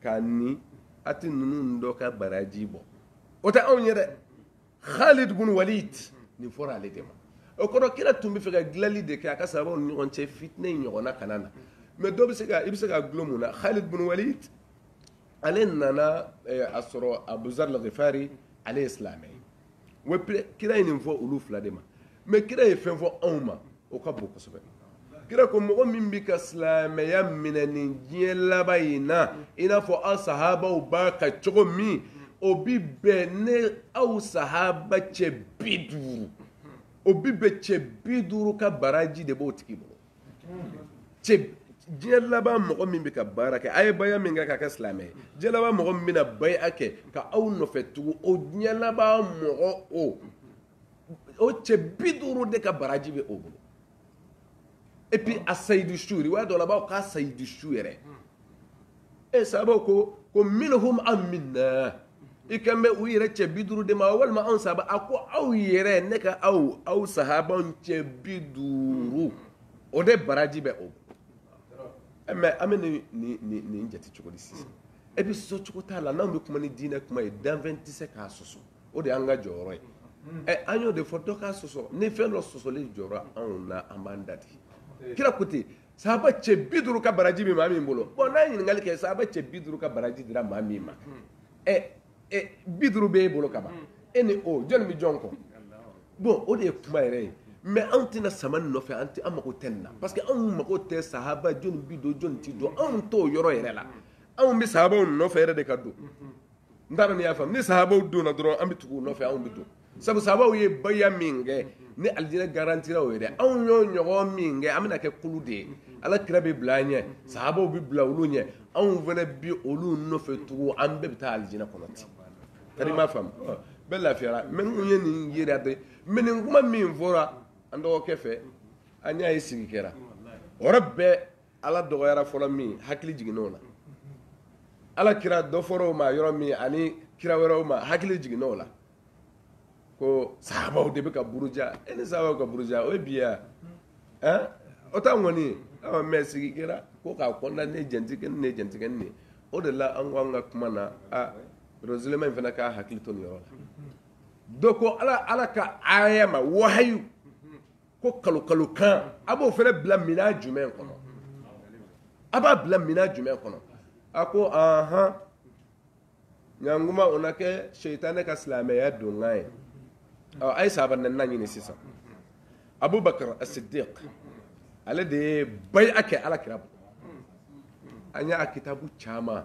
k'a ni a tɛ ninnu dɔ ka baraji bɔ o tɛ anw ye dɛ khalid bun walid nin fɔra ale de ma o kɔrɔ kira tun bɛ fɛ ka dilanli de kɛ a ka sahabaw ni ɲɔgɔn cɛ fitinɛ in ɲɔgɔnna kana na mais dɔ bɛ se ka i bɛ se ka gulon mun na khalid bun walid ale nana eh, a sɔrɔ abuzar lagifari ale ye silamɛ ye wa kira ye nin fɔ olu fila de ma mais kira ye fɛn fɔ anw ma o ka bon kosɛbɛ kira ko mɔgɔ min bɛ ka silamɛya minɛ nin diɲɛ laban in na i n'a fɔ aw sahabaw b'a kan cogo min o bi bɛn ne aw sahaba cɛ bi duuru o bi bɛn cɛ bi duuru ka baraji de b'o tigi bolo cɛ diɲɛ laban mɔgɔ min bɛ ka baara kɛ a ye baya min kɛ ka kɛ silamɛ ye diɲɛ laban mɔgɔ min bɛna baya kɛ ka aw nɔfɛ tugu o diɲɛ laban mɔgɔ o o cɛ bi duuru de ka baraji bɛ o bolo et puis a sahidu su riwaya dɔ la a b'a fɔ k'a sahidu su yɛrɛ e sahabaw ko ko minhum aw minna i kan bɛ u yɛrɛ cɛ bi duuru de ma walima anw sahabaw a ko aw yɛrɛ ne ka aw aw sahabanw cɛ bi duuru o de baraji bɛ o eh, mɛ an bɛ nin nin nin nin jate cogo di sisan e bɛ sɔsɔ cogo t'a la n'anw bɛ kuma ni diinɛ kuma ye danfɛn tɛ se k'a sɔsɔ o de y'an ka jɔyɔrɔ ye ɛ eh, an y'o de fɔ dɔ k'a sɔsɔ ni fɛn dɔ sɔsɔli jɔra anw na an b'an da de kira ko ten sahaba cɛ bi duuru ka baraji min maa min bolo bon n'a ɲininkali kɛ sahaba cɛ bi duuru ka baraji dira maa min ma bi duuru bɛ e bolo ka ban e ni o jɔnni bɛ jɔn kɔ bon o de ye kuma yɛrɛ ye mɛ anw tɛna sama nɔfɛ an tɛ an mako tɛ na parce que anw mako tɛ sahaba jɔn bi don jɔn tɛ don anw t'o yɔrɔ yɛrɛ la anw bɛ sahabaw nɔfɛ yɛrɛ de ka don n taara n'i y'a faamu ni sahabaw donna dɔrɔn an bɛ tugu nɔfɛ anw bɛ don sabu sahabaw ye baya min kɛ ni alijinɛ garantira u ye dɛ anw y'o ɲɔgɔn min kɛ an bɛna kɛ kulu de ye ala kira bɛ bila an ɲɛ sahabaw bɛ bila olu ɲɛ anw fana bi olu nɔfɛ tugu an bɛɛ bɛ taa alijinɛ kɔnɔ ten kari ma faamu bɛɛ lafiyara mɛ n ye nin yɛrɛ bɛɛ mɛ nin kuma min fɔra an dɔgɔkɛ fɛ an y'a ye sigi kɛra o yɔrɔ bɛɛ ala dɔgɔyara yɔrɔ min hakili jiginna o la ala kira dɔ fɔra o ma yɔrɔ min ani kira wɛrɛw ma hakili jiginna o la ko sahabaw de bɛ ka buruja e ni sahabaw ka buruja o ye bi ya ɛn o t'an kɔni ye aw mɛ sigi kɛra ko k'a kɔnɔna ne jɛntigɛ ni ne jɛntigɛ ni ne o de la an ko an ka kuma na a rosilema in fana k'a hakili to nin yɔrɔ la dɔ ko ala ala ka aya ma wahayu ko kalokalo kan a b'o fana bila minɛn jumɛn kɔnɔ a b'a bila minɛn jumɛn kɔnɔ a ko ahan ɲankuma o na kɛ seitanɛ ka silamɛya donkan ye a ye sahaba naani nin ɲini sisan abubakar asidiq ale de ye baya kɛ ala kira bolo an y'a kitabu caman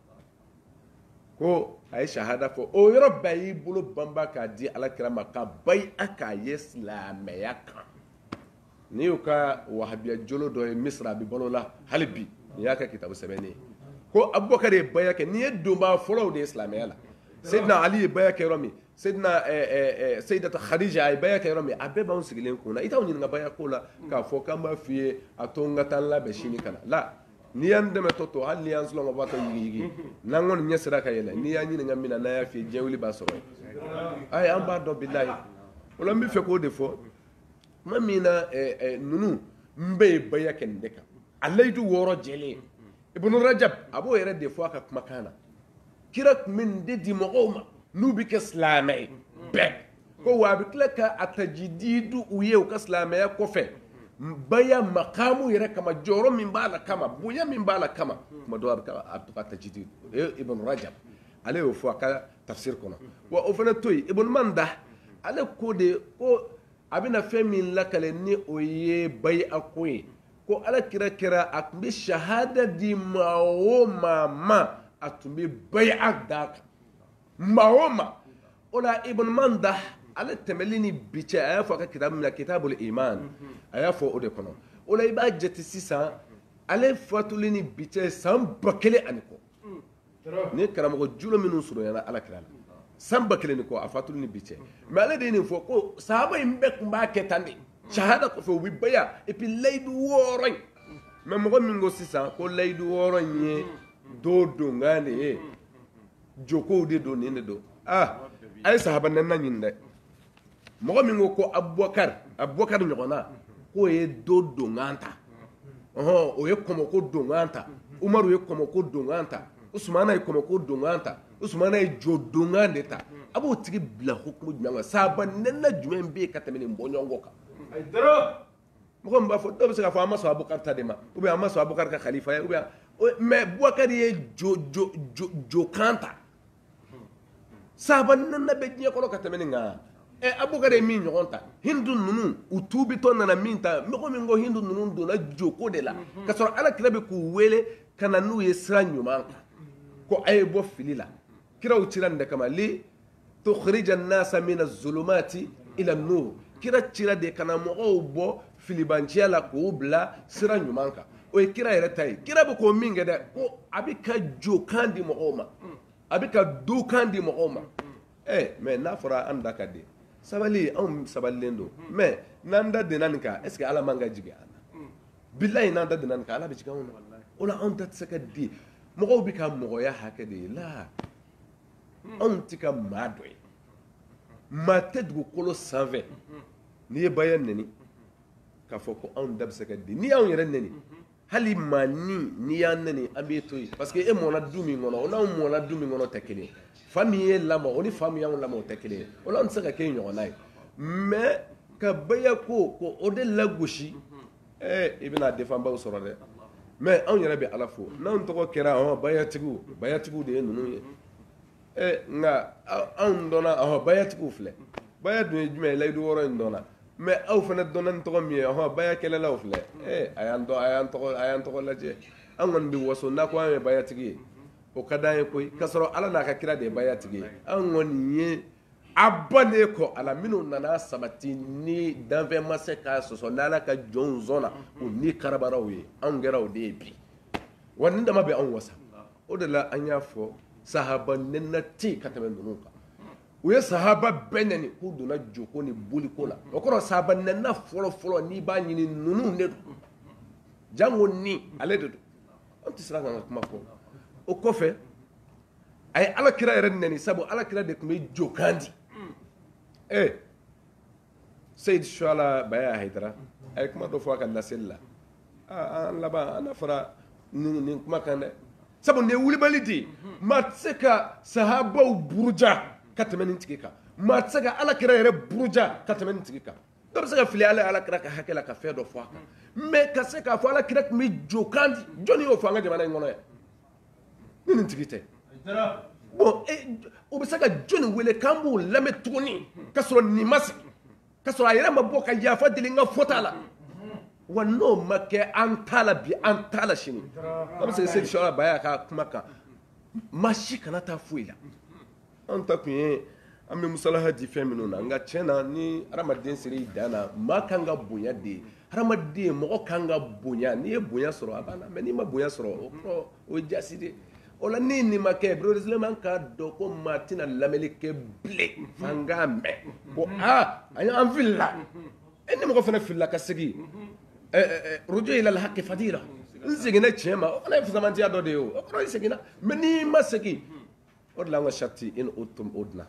ko a ye sahada fɔ o yɔrɔ bɛɛ y'i bolo banba k'a di ala kira ma ka baya k'a ye silamɛya kan n'i y'u ka wahabiya jolo dɔ ye misiri a bɛ balo la hali bi n'i y'a ka kitabu sɛbɛnnen ye ko abubakar ye baya kɛ ninnu ye donbaa fɔlɔw de ye silamɛya la seyidina ali ye baya kɛ yɔrɔ min seyidina eh, eh, eh, seyidata khadija a ye baya kɛ yɔrɔ min a bɛɛ b'anw sigilen kun na i t'anw ɲininka baya ko la k'a fɔ k'an b'a f'i ye a to n ka taa n labɛn sini ka na la n'i y'an dɛmɛ tɔ to hali n'i y'an sunɔgɔbaatɔ yigiyigi n'an kɔni ɲɛ sera ka yɛlɛ n'i y'an ɲininka min na n'an y'a f'i ye diɲɛ wuli b'a sɔrɔ yen ayi an b'a dɔn bilayi o la n bɛ fɛ k'o de fɔ tuma min na ninnu bɛɛ ye baya kɛ nin de kan a layidu wɔɔrɔ jɛlen ibunu rajab a b'o yɛrɛ de fɔ a ka kumakan na kira tun bɛ nin de di mɔgɔw ma n'u bɛ kɛ silamɛ ye bɛɛ ko wa a bɛ tila ka a tajididu u ye u ka silamɛya kɔfɛ baya makamu yɛrɛ kama jɔyɔrɔ min b'a la kama bonya min b'a la kama tuma dɔw a bɛ taa a bɛ to ka tajididu u ye ibn rajab ale y'o fɔ a ka tafsir kɔnɔ wa o fana to yen ibn manda ale ko de ko a bɛna fɛn min lakali nin o ye baya ko ye ko ala kira kɛra a tun bɛ shahada di maa o maa ma a tun bɛ baya d'a kan maa o ma o la ibn manda ale tɛmɛli ni bi cɛ a y'a fɔ a ka kitabu min na kitabul iman a y'a fɔ o de kɔnɔ o la i b'a jate sisan ale fatuli ni bi cɛ san ba kelen ani kɔ nin ye karamɔgɔ julo minnu surunyana ala kira la san ba kelen ni kɔ a fatuli ni bi cɛ mɛ ale de ye nin fɔ ko sahaba in bɛɛ tun b'a kɛ tan de shahada kɔfɛ u bɛ baya et puis layidu wɔɔrɔ in mɛ mɔgɔ min ko sisan ko layidu wɔɔrɔ in ye do donkan de ye jokow de don nin de don ah a ye sahaba nɛnna ɲini dɛ mɔgɔ min ko ko abubakari abubakari ɲɔgɔnna k'o ye do donkan ta ɔhɔn o ye kɔmɔko donkan ta umaru ye kɔmɔko donkan ta usumana ye kɔmɔko donkan ta usumana ye jo donkan de ta a b'o tigi bila hukumu jumɛn kan sahaba nɛnna jumɛn bɛ yen ka tɛmɛ nin bɔɲɔgɔnko kan mɔgɔ min b'a fɔ dɔw bɛ se k'a fɔ an ma sɔn abukari ta de ma ou bien an ma sɔn abukari ka khalifaya ou bien mais bubakari ye jo jo jo jokan ta sahaba nɛnna bɛ diɲɛ kɔnɔ ka tɛmɛ nin kan ɛ abukari ye min ɲɔgɔn ta hindu ninnu u tuubitɔ nana min ta mɔgɔ min ko hindu ninnu donna joko de la ka sɔrɔ ala kira bɛ k'u wele ka na n'u ye sira ɲuman kan ko a ye bɔ fili la kiraw cira nin de kama li to nasa mina zulumati ila nur kira cira de ka na mɔgɔw bɔ filibanciya la k'u bila sira ɲuman kan o ye kira yɛrɛ ta ye kira bɛ ko min kɛ dɛ ko a bɛ ka jokan di mɔgɔw ma a bɛ ka dokan di mɔgɔw ma ɛ mɛ n'a fɔra an da ka di sabali anw sabalilen don mɛ n'an da dena nin kan est-ce que ala man ka jigin an na bila in n'an da dena nin kan ala bɛ jigin anw na o la anw da tɛ se ka di mɔgɔw bɛ ka mɔgɔya hakɛ de ye la anw tɛ ka maa dɔ ye maa tɛ dugukolo sanfɛ n'i ye baya nɛni k'a fɔ ko anw da bɛ se ka di n'i y'anw yɛrɛ nɛni hali maa ni n'i y'an nɛni an b'i to yen parce que e mɔna du min kɔnɔ o n'anw mɔna du min kɔnɔ tɛ kelen fa min y'e lamɔ o ni fa min y'anw lamɔ o tɛ kelen o la an tɛ se ka kɛ i ɲɔgɔnna ye mɛ ka baya ko ko o de lagosi ee i bɛna defanbaw sɔrɔ dɛ mɛ anw yɛrɛ bɛ ala fo n'anw tɔgɔ kɛra ahɔ bayatigiw bayatigiw de ye ninnu ye ee nka anw dɔnna ahɔ bayatigiw filɛ baya dun ye jumɛn ye layidu wɔɔrɔ in dɔnna mɛ aw fana dɔnna ni tɔgɔ min ye ahɔ baya kɛlɛlaw filɛ ee a y'an tɔgɔ a y'an tɔgɔ a y'an tɔgɔ lajɛ an kɔni bɛ waso n'a ko an ye bayatigi ye o ka d'an ye koyi k'a sɔrɔ ala n'a ka kira de ye bayatigi ye an kɔni ye a ba de kɔ ala minnu nana sabati ni danfɛn ma se k'a sɔsɔ n' ala ka jɔnsɔn na u ni kiraw ye anw kɛra o de ye bi wa nin dama bɛ anw wasa o de la an y'a fɔ sahaba nenina tɛ ka tɛmɛ ninnu kan u ye sahaba bɛɛ neni k'u donna joko ni boliko la o kɔrɔ sahaba n fɔlɔ fɔlɔ n'i b'a ɲini ninnu de don jango ni ale de don an tɛ siran k'a ka kuma fɔ o kɔfɛ a ye ala kira yɛrɛ neni sabu ala kira de tun bɛ jokan di ee eh, seyidi suala bayaya hayidara a ye kuma dɔ fɔ a ka laseli la ah, an laban an na fara nin kuma kan dɛ sabu nin ye wulibali de ye maa tɛ se ka sahabaw buruja ka tɛmɛ nin tigi kan maa tɛ se ka ala kira yɛrɛ buruja ka tɛmɛ nin tigi kan dɔ bɛ se ka fili ala ala kira ka hakɛ la ka fɛn dɔ fɔ a kan mɛ ka se k'a fɔ ala kira tun bɛ jokan di jɔnni y'o fɔ an ka jamana in kɔnɔ yan ni nin tigi tɛ bon o bɛ se ka jɔnni wele k'an b'o lamɛn tuguni ka sɔrɔ nin ma sigi ka sɔrɔ a yɛrɛ ma bɔ ka yafa deli n ka fɔta la wa n'o ma kɛ an t'a la bi an t'a la sini an bɛ se seyidi suala bayaya ka kuma kan maa si kana taa foyi la an ta tun ye an bɛ musalaha di fɛn minnu na nka tiɲɛ na ni hadamaden sera i dan na maa kan ka bonya de ye hadamaden mɔgɔ kan ka bonya n'i ye bonya sɔrɔ a b'a la mɛ n'i ma bonya sɔrɔ o kɔrɔ o ye jaasi de ye o la ni nin ma kɛ beresilaman k'a dɔn ko maa tɛna lamɛnni kɛ bilen f'an k'a mɛn ko aa a ye an filila e ni mɔgɔ fana filila ka segin ruju ila alhaki fadila n seginna tiɲɛ ma o fana ye fusamatiya dɔ de ye o kɔrɔ i seginna mɛ n'i ma segin o de la an ka sariti in o tun o dilan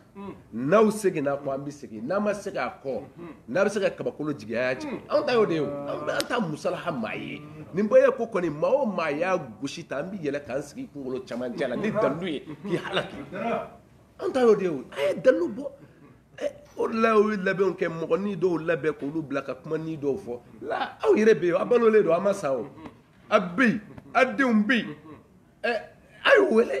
n'aw seginna kɔ an bɛ segin n'aw ma segin kɔ n'aw bɛ se ka kabakolo jigin a jigin anw ta y'o de ye anw bɛ an ta musalaha maa ye nin bɛɛ ye ko kɔni maa o maa y'a gosi ta an bɛ yɛlɛn k'an sigi kunkolo cɛmancɛ la ni dalu ye k'i halaki anw ta y'o de ye a ye dalu bɔ o de la y'o labɛnw kɛ mɔgɔ ni dɔw labɛn k'olu bila ka kuma ni dɔw fɔ la aw yɛrɛ bɛ yen aw balolen don aw ma sa o a bɛ yen aw denw bɛ yen a y'u wele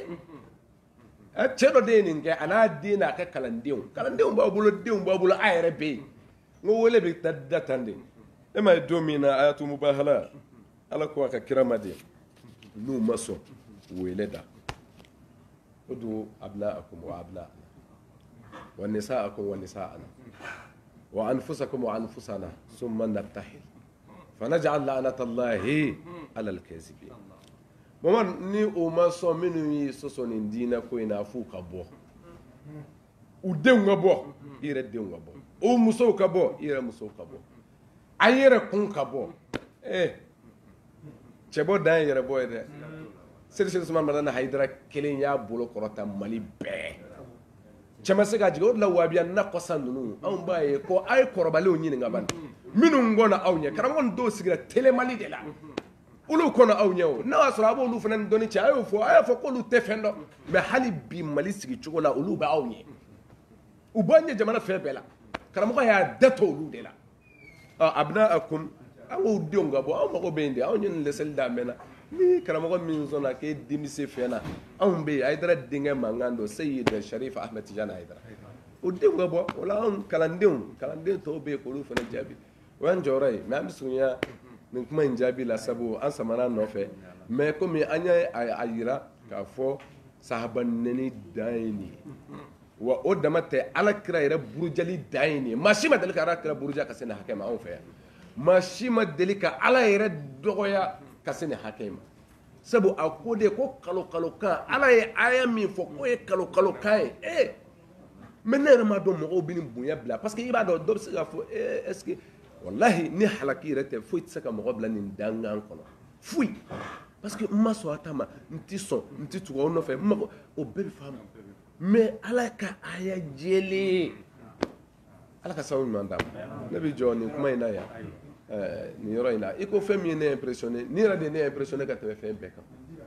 cɛ dɔ de ye nin kɛ a n'a den n'a ka kalandenw kalandenw b'a bolo denw b'a bolo a yɛrɛ bɛ yen n ko wele bɛ da da tan de e ma ye don min na ayatu mubahala ala ko a ka kira ma de n'u ma sɔn wele da o don abna akum wa abna wa nisa akum wa nisa ana wa anfusakum wa anfusana summa nabtahil fanaj'al la'anatallahi alal kazibi Baba ni o ma sɔn minnu y'i sɔsɔ nin diinɛ ko in fo ka bɔ u denw ka bɔ i yɛrɛ denw ka bɔ o musow ka bɔ i yɛrɛ musow ka bɔ a yɛrɛ kun ka bɔ ɛ cɛbɔ dan ye yɛrɛ bɔ ye dɛ seli suma mana na hara kelen y'a bolo kɔrɔta mali bɛɛ cɛ se ka jigin o la wahabiya na kɔsa ninnu anw b'a ye ko a ye kɔrɔbaliw ɲini ka minnu aw ye karamɔgɔ dɔw sigira tma de la olu kɔnɔ aw ɲɛ o n'a y'a sɔrɔ a b'olu fana ni dɔnni cɛ a y'o fɔ a y'a fɔ k'olu tɛ fɛn dɔn mɛ hali bi mali sigi cogo la olu bɛ aw ɲɛ u b'an ɲɛ jamana fɛn bɛɛ la karamɔgɔ y'a da to olu de la a bɛna a kun an k'o denw ka bɔ aw mago bɛ yen de anw ye nin dɛsɛli da mɛnna ni karamɔgɔ min sɔnna k'e denmise fɛn na anw bɛ yen ayidara denkɛ mankan don seyidi sharif ahmed tijani ayidara o denw ka bɔ o la anw kalandenw kalanden tɔw bɛ yen k'olu fana jaabi o y'an jɔyɔrɔ ye mɛ an bɛ surunya nin kuma in jaabi la sabu an samana nɔfɛ mɛ komi an y'a yira k'a fɔ sahaba nɛni dan ye nin ye wa o dama tɛ ala kira yɛrɛ burujali dan ye nin ye maa si ma deli ka ala kira buruja ka se nin hakɛ ma anw fɛ yan maa si ma deli ka ala yɛrɛ dɔgɔya ka se nin hakɛ ma sabu a ko de ko kalokalokan ala ye aya min fɔ k'o ye kalokalokan ye ee mɛ ne yɛrɛ m'a dɔn mɔgɔw bɛ bonya bila parce que i b'a dɔn dɔ bɛ se k'a fɔ eh, est ce que walahi ni halaki yɛrɛ tɛ foyi tɛ se ka mɔgɔ bila nin dangan kɔnɔ foyi parce que n ma sɔn aw ta ma n tɛ sɔn n tɛ tugu aw nɔfɛ n mago o bɛɛ bɛ faamu mɛ ala ka aya jɛlen ala ka sababu ɲuman d'a ma ne bɛ jɔ nin kuma in na yan eh, nin yɔrɔ in na i ko fɛn min ye ne impressionné nin yɛrɛ de ye ne impressionné ka tɛmɛ fɛn bɛɛ kan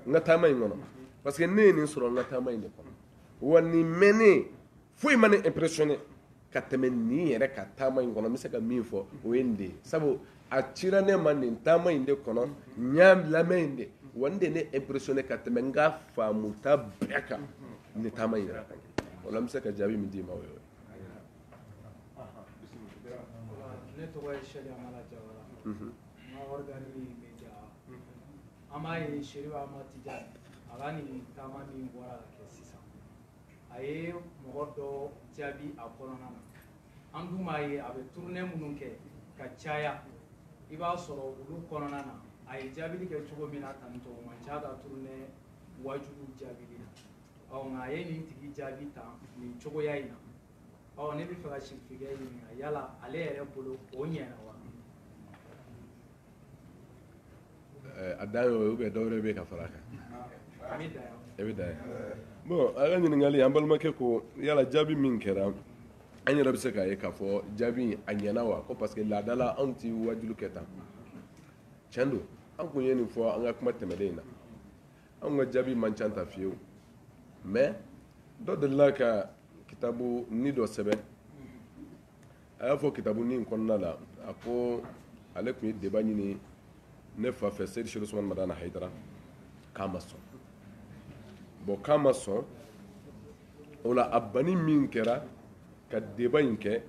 n ka taama in kɔnɔ parce que ne ye nin sɔrɔ n ka taama in de kɔnɔ wa nin mɛnnen foyi ma ne impressionné ka tɛmɛ nin yɛrɛ kan taama in kɔnɔ n bɛ se ka min fɔ o ye nin de ye sabu a cira ne ma nin taama in de kɔnɔ n y'a lamɛn yen de wa nin de ye ne impressionné ka tɛmɛ n ka faamuta bɛɛ kan nin taama in yɛrɛ kan o la n bɛ se ka jaabi min d'i ma o ye ne tɔgɔ ye sɛdi amala jawara n ka ɔrigani bɛ ja an b'a ye serifu amadi tijani a ka nin taama min bɔra ka kɛ sisan a ye mɔgɔ dɔ jaabi a kɔnɔna na an dun b'a ye a bɛ turunɛ minnu kɛ ka caya i b'a sɔrɔ olu kɔnɔna na a ye jaabili kɛ cogo min na tan tɔgɔ man ca a ka turunɛ waajuw jaabili la ɔ nka a ye nin tigi jaabi tan nin cogoya in na ɔ ne bɛ fɛ ka sirifikɛ ɲininka yala ale yɛrɛ bolo o ɲɛna wa eh, a dan y'o ye ubiyɛn dɔwɛrɛ bɛ yen ka fara a kan a bɛ dan yen bɔn a ka ɲininkali an balimakɛ ko yala jaabi min kɛra an yɛrɛ bɛ se k'a ye k'a fɔ jaabi a ɲɛna wa ko parce que laadala anw ti waajuli kɛ tan tiɲɛ don an kun ye nin fɔ an ka kuma tɛmɛnen in na anw ka jaabi man ca tan fewu mais dɔ delila ka kitabunin dɔ sɛbɛn a y'a fɔ kitabunin in kɔnɔna la a ko ale tun ye deba ɲini ne fa fɛ seyidi seku usumani madani hayidara k'a ma sɔn bɔn k'a ma sɔn o la a banni min kɛra ka deba in kɛ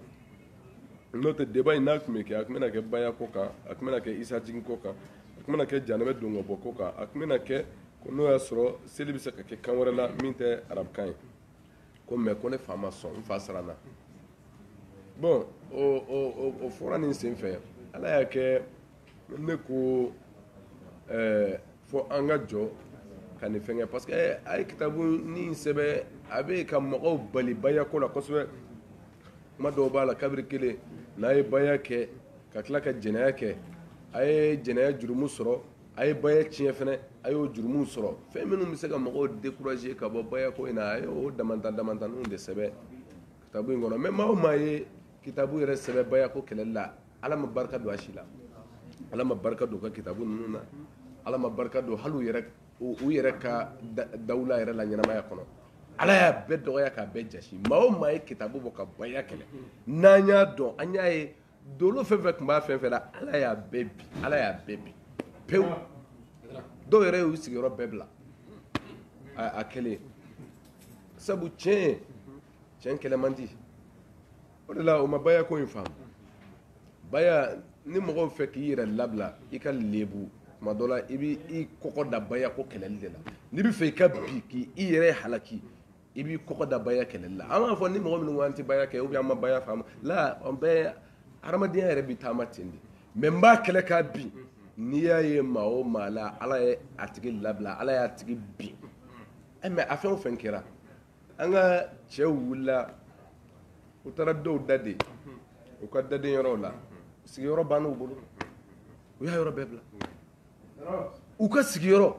n'o tɛ deba in n'a tun bɛ kɛ a tun bɛna kɛ baya ko kan a tun bɛna kɛ isa jigin ko kan a tun bɛna kɛ jahanama don ka bɔ ko kan a tun bɛna kɛ n'o y'a sɔrɔ seli bɛ se ka kɛ kan wɛrɛ la min tɛ arabukan ye ko mɛ ko ne fa ma sɔn n fa siranna bɔn o fɔra nin sen fɛ ala y'a kɛ ne ko fo an ka jɔ ka nin fɛn kɛ parce que a ye kitabunin sɛbɛn a bɛ ka mɔgɔw bali baya ko la kosɛbɛ kuma dɔw b'a la kabiri kelen n'a ye baya kɛ ka tila ka jɛnɛya kɛ a ye jɛnɛya jurumu sɔrɔ a ye baya tiɲɛ fana a y'o jurumu sɔrɔ fɛn minnu bɛ se ka mɔgɔw dekuraze ka bɔ baya ko in a y'o da da tanw de sɛbɛn ka in kɔnɔ mɛ maa o maa ye kitabu yɛrɛ sɛbɛn baya ko kɛlɛli la ala ma barika don a si la ala ma barika don u ka kitabu ninnu na ala ma barika don hali u yɛrɛ ka dawula yɛrɛ la ɲɛnamaya kɔnɔ ala y'a bɛɛ dɔgɔya k'a bɛɛ jaasi maa o maa ye kitabu bɔ ka baya kɛlɛ n'an y'a dɔn an y'a ye dawula fɛn o fɛn tun b'a fɛn o fɛn na ala y'a bɛɛ bin ala y'a bɛɛ bin pewu dɔw yɛrɛ y'u sigiyɔrɔ bɛɛ bila a kelen sabu tiɲɛ tiɲɛ kɛlɛ man di o de la o ma baya ko in faamu baya ni mɔgɔ b'a fɛ k'i yɛrɛ labila i ka lebu tuma dɔ la i b'i kɔgɔ da baya ko kɛlɛli de la n'i b'a fɛ i ka bin k'i yɛrɛ halaki i b'i kɔgɔ da baya kɛlɛli la an b'a fɔ ni mɔgɔ minnu ko an tɛ baya kɛ ubiyɛn an ma baya faamu la an bɛɛ hadamadenya yɛrɛ bɛ taama ten de mɛ n b'a kɛlɛ k'a bin n'i y'a ye maa o maa la ala ye a tigi labila ala y'a tigi bin eh, mɛ a fɛn o fɛn kɛra an ka cɛw wulila u taara dɔw da de u ka daden yɔrɔw la sigiyɔrɔ banna u bolo u y'a yɔrɔ bɛɛ bila u ka sigiyɔrɔ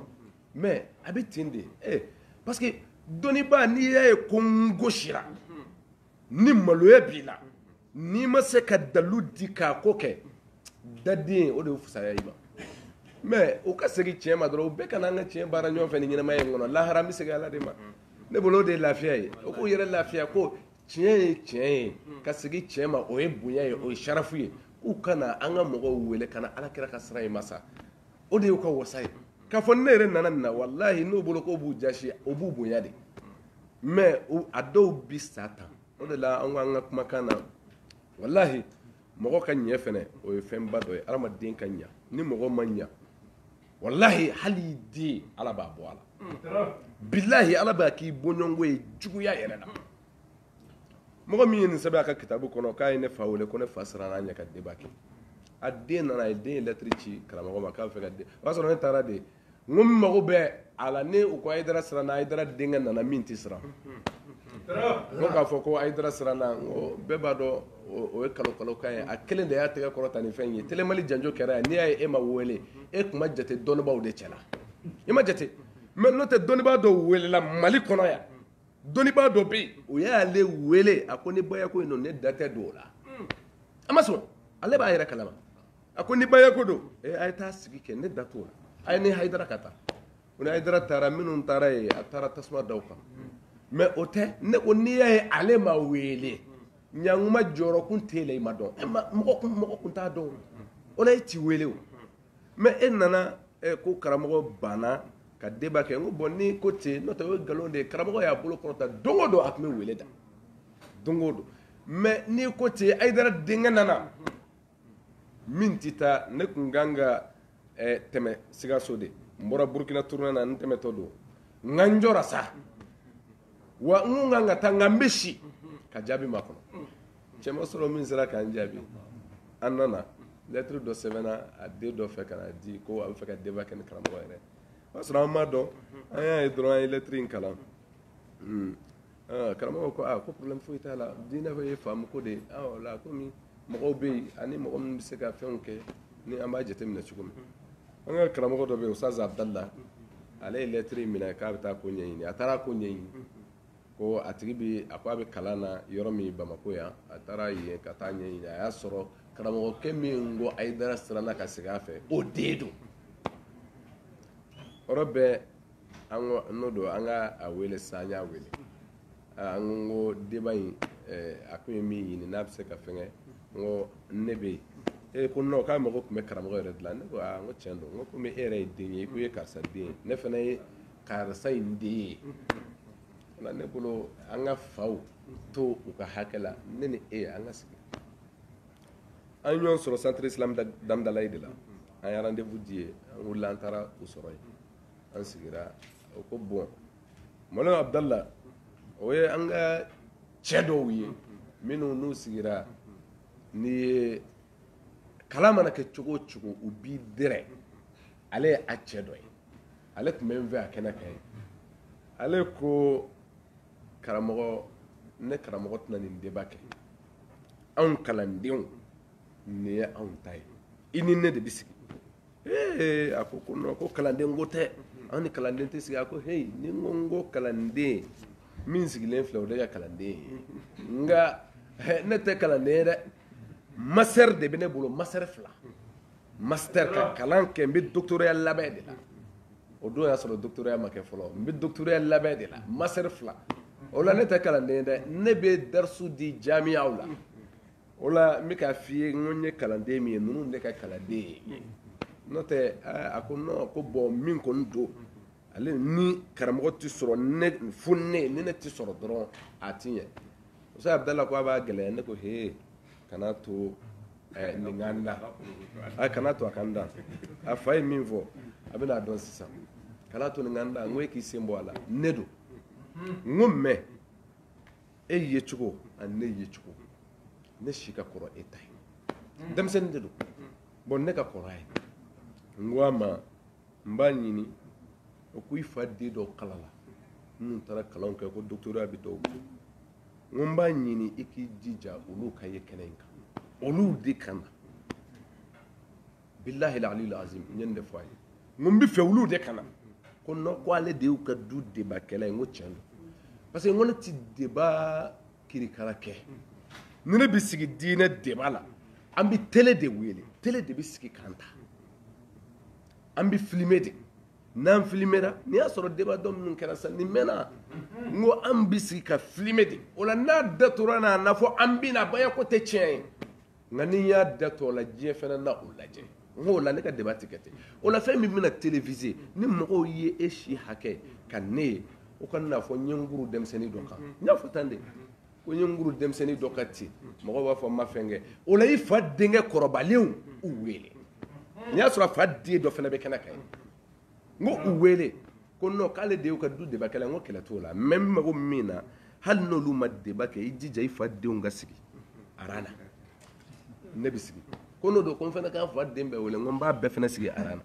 mais a bɛ ten de eh, parce que dɔnnibaa n'i y'a ye ko n gosira ni maloya b'i la n'i ma se ka dalu di k'a ko kɛ daden o de ye fusaya i ma mais u ka segin tiɲɛ ma dɔrɔn u bɛɛ ka na an ka tiɲɛ baara ɲɔgɔn fɛ ni ɲɛnamaya in kɔnɔ lahara an bɛ segin ala de ma ne bolo o de ye lafiya ye u k'u yɛrɛ lafiya ko tiɲɛ ye tiɲɛ ye ka segin tiɲɛ ma o ye bonya ye o ye sarafu ye k'u ka na an ka mɔgɔw wele ka na ala kira ka sira in ma sa o de y'u ka wasa ye k'a fɔ ne yɛrɛ nana nin na walahi n'u bolo k'o b'u jasi o b'u bonya de mɛ a dɔw bi sa tan o de la an ko an ka kumakan na walahi mɔgɔ ka ɲɛ fɛnɛ o ye fɛnba dɔ ye adamaden ka ɲa ni mɔgɔ ma ɲa walahi hali i den ala b'a bɔ a la bilahi ala b'a k'i bɔɲɔgɔnko ye juguya yɛrɛ la mɔgɔ min ye nin sɛbɛn a ka kitabu kɔnɔ k'a ye ne fa wele ko ne fa siranna a ɲɛ ka débat kɛ a den nana a ye den ye lɛtiri ci karamɔgɔ ma k'a bɛ fɛ ka den o y'a sɔrɔ ne taara de n ko n mago bɛ a la ne u ko ayidara siranna ayidara denkɛ nana min tɛ siran ko k'a fɔ ko ayidara siranna n ko bɛɛ b'a dɔn o ye nkalon nkalonkan ye a kelen de y'a tɛgɛ kɔrɔta ni fɛn ye telemali janjo kɛra yan n'i y'a ye e ma wele e tun ma jate dɔnnibaaw de cɛla i ma jate mɛ n'o tɛ dɔnnibaa dɔw welela mali kɔnɔ yan dɔnnibaa dɔ bɛ yen o y'ale wele a ko ni bayako in don ne da tɛ don o la hmm. a ma sɔn ale b'a yɛrɛ kalama a ko ni bayako don ee eh, a ye taa sigi kɛ ne da t'o la a ye ni hayidara ka taa o ni hayidara taara minnu taara yen a taara tasuma da u kan mɛ o tɛ ne ko n'i y'a ye ale ma wele yan kuma jɔyɔrɔ kun t'e la i ma dɔn mɔgɔ kun t'a dɔn o la e t'i wele o mɛ e nana eh, ko karamɔgɔ banna ka débat kɛ n ko bon ni ko ten n'o tɛ o ye nkalon de ye karamɔgɔ y'a bolo kɔrɔta don o don a tun bɛ wele da don o don mɛ n'i ko ten ayidara denkɛ nana min tɛ taa ne tun kan ka eh, tɛmɛ sikaso de n bɔra burukina tournée na n tɛmɛtɔ don nka n jɔra sa wa n kan ka taa nka n bɛ si ka jaabi makɔnɔ cɛ ma sɔrɔ min sera k'an jaabi an nana lɛtiri dɔ sɛbɛnna a den dɔ fɛ ka n'a di ko a bɛ fɛ ka débat kɛ ni karamɔgɔ yɛrɛ o y'a sɔrɔ an m'a dɔn an y'a ye dɔrɔn an ye lɛtiri in kalan karamɔgɔ ko aa ko problème foyi t'a la diinɛ bɛɛ ye faamu ko de ye o la komi mɔgɔw bɛ yen ani mɔgɔ minnu bɛ se ka fɛnw kɛ ni an b'a jateminɛ cogo min An ka karamɔgɔ dɔ bɛ yen Ustaz Abdallah, ale ye lettre in minɛ k'a bɛ taa ko ɲɛɲini, a taara ko ɲɛɲini, ko a tigi bɛ, a ko a bɛ kalan na yɔrɔ min Bamakɔ yan, a taara yen ka taa ɲɛɲini, a y'a sɔrɔ karamɔgɔkɛ min ko Ayidara siranna ka sigi a fɛ, o den don. O yɔrɔ bɛɛ an ko n'o don an ka a wele sisan, an y'a wele. ah, n ko n ko débat in eh, a ko ye min ɲini n'a bɛ se ka fɛngɛ n ko ne bɛ yen a ko non k'a mago tun bɛ karamɔgɔ yɛrɛ de la ne ko aa ah, n ko tiɲɛ don n ko komi e yɛrɛ ye den ye i ko i ye karisa den ye ne fana ye karisa in den ye na ne bolo an ka faw to u ka hakɛ la ne ni e an ka sigi an ɲɔgɔn sɔrɔ centre islam d'Hamdallaye de la an ye rendez-vous di yen an wulila an taara u sɔrɔ yen an sigira o ko bon mualim abudala o ye an ka cɛ dɔw ye minnu n'u sigira ni ye kalan mana kɛ cogo o cogo u b'i dɛrɛ ale ye a cɛ dɔ ye ale tun bɛ n fɛ a kɛnɛ kan yen ale ko karamɔgɔ ne karamɔgɔ tɛna nin débat kɛ anw kalandenw nin ye anw ta ye i ni ne de bɛ sigi ee a ko ko non ko kalanden ko tɛ an ni kalanden tɛ sigi a ko heyi ni n ko n ko kalanden min sigilen filɛ o de ka kalanden ye nka ne tɛ kalanden ye dɛ master de bɛ ne bolo master fila master ka kalan kɛ n bɛ dɔgɔtɔrɔya labɛn de la o don y'a sɔrɔ dɔgɔtɔrɔya ma kɛ fɔlɔ n bɛ dɔgɔtɔrɔya labɛn de la master fila o la ne tɛ kalanden ye dɛ ne bɛ darisu di jamiyaw la o la n bɛ k'a f'i ye n ko n ye kalanden min ye ninnu ne ka kalanden ye n'o tɛ a ko non ko bɔn min kɔni don ale ni karamɔgɔ tɛ sɔrɔ ne fo ne ni ne tɛ sɔrɔ dɔrɔn a ti ɲɛ muso abudala ko a b'a gɛlɛya ne ko hee kana to eh, nin ka n da a kana to a ka n da a fa ye min fɔ a bɛna a dɔn sisan kana to nin ka n da n ko e k'i sen bɔ a la ne don n ko mɛ e yecogo ani ne yecogo ne si ka kɔrɔ e ta ye mm. denmisɛnnin de don mm. bɔn ne ka kɔrɔ a ye n ko a ma n b'a ɲini o ko i fa den dɔw kalanna minnu taara kalanw kɛ ko dɔgɔtɔrɔya bɛ dɔw kun n ko n b'a ɲini i k'i jija olu ka ye kɛnɛ in kan olu de ka na bilahi alil azim n ye nin de fɔ a ye n ko n b'a fɛ olu de ka na ko non ko ale de y'u ka du debakɛla ye n ko tiɲɛ don parce que n ko ne tɛ débat kirikara kɛ ni ne bɛ sigi diinɛ débat la an bɛ télé de wele télé de bɛ sigi k'an ta an bɛ filmer de n'an filimera n'i y'a sɔrɔ débat dɔ minnu kɛra sa nin mɛnna n ko an bɛ sigi ka filmer de o la n'a datugura n'a na fɔ an bɛna bayako tɛ tiɲɛ ye Nka ni n y'a datugu o la diɲɛ fana na o lajɛ n ko o la ne ka débat tɛ kɛ ten o la fɛn min bɛna téléviser ni mɔgɔw ye e si hakɛ ka ne ye u kan'a fɔ n ye n kuru denmisɛnnin dɔ kan n y'a fɔ tan de ko n ye n kuru denmisɛnnin dɔ kan ten mɔgɔw b'a fɔ n ma fɛn kɛ o la i fa denkɛ kɔrɔbalenw u wele n y'a sɔrɔ a fa den dɔ fana bɛ kɛnɛ kan yen n ko u wele ko non k'ale de y'u ka du deba kɛla n ko kɛlɛ t'o la mɛ n mago min na hali n'olu ma deba kɛ i jija i fa denw ka sigi ara la ne bɛ sigi ko n'o don ko n fana ka n fa den bɛɛ wele n ko n b'a bɛɛ fana sigi ara la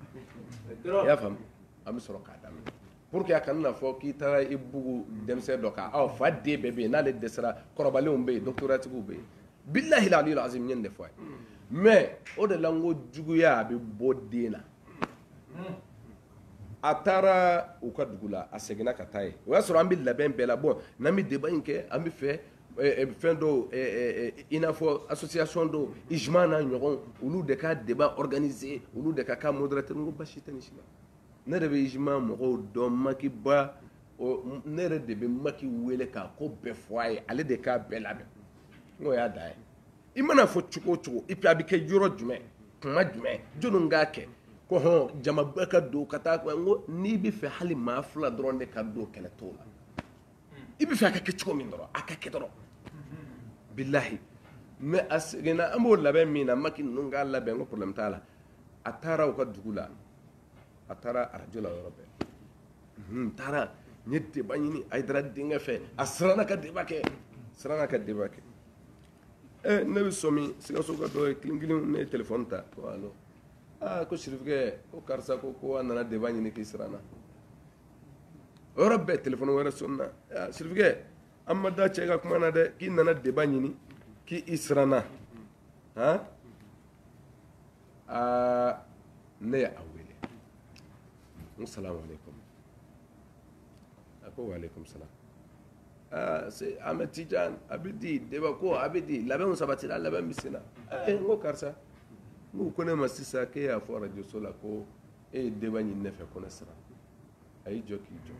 i y'a faamu an bɛ sɔrɔ k'a daminɛ pour que a kana na fɔ k'i taara i bugu denmisɛn dɔ kan ɔ fa den bɛɛ bɛ yen n'ale dɛsɛra kɔrɔbalenw bɛ yen dɔkitɔratigiw bɛ yen bilahi la aliyu azim n ye nin de fɔ a ye mɛ o de la n ko juguya a bɛ bɔ den na a taara u ka dugu la a seginna ka taa yen o y'a sɔrɔ an bɛ labɛn bɛɛ la bɔn n'an bɛ deba in kɛ an bɛ fɛ eh, eh, fɛn dɔw eh, i n'a fɔ association dɔw ijuma n'a ɲɔgɔn olu de ka deba organiser olu de ka k'a modérateur n ko basi tɛ nin si la ne yɛrɛ bɛ ijuma mɔgɔw dɔn maki ba ne yɛrɛ de bɛ maki wele k'a ko bɛɛ fɔ a ye ale de k'a bɛɛ labɛn n'o y'a dan ye i mana fɔ cogo o cogo ipi a bɛ kɛ yɔrɔ jumɛn kuma jumɛn jɔnni k'a kɛ ko hɔn jamaba ka don ka taa ko n'i bɛ fɛ hali maa fila dɔrɔn de ka don kɛlɛ t'o la i bɛ fɛ a ka kɛ cogo min dɔrɔn a ka kɛ dɔrɔn bilahi mɛ a seginna an b'o labɛn nin na maki ninnu k'a labɛn ko problème t'a la a taara u ka dugu la a taara arajo la yɔrɔ bɛɛ n taara n ye deba ɲini ayidara denkɛ fɛ a siranna ka deba kɛ siranna ka deba kɛ ɛ ne bɛ sɔmi sikasoka dɔ ye kelen kelen ne ye telefɔni ta ko alo aa ah, ko sirifukɛ ko karisa ko ko a nana deba ɲini k'i siranna o yɔrɔ bɛɛ telefɔni wɛrɛ sɔnena ah, sirifukɛ an ma da cɛ ka kuma na dɛ k'i nana deba ɲini k'i i siranna han aa ah, ne ye a wele n ko salamu aleykum a ko waaleykum salam aa se amɛ tijan a bɛ di deba ko a bɛ di labɛnw sabatira labɛn bɛ senna ee n ko karisa n ko u ko ne ma sisan k'e y'a fɔ arajo so la ko e ye deba ɲini ne fɛ ko ne siranna a y'i jɔ k'i jɔ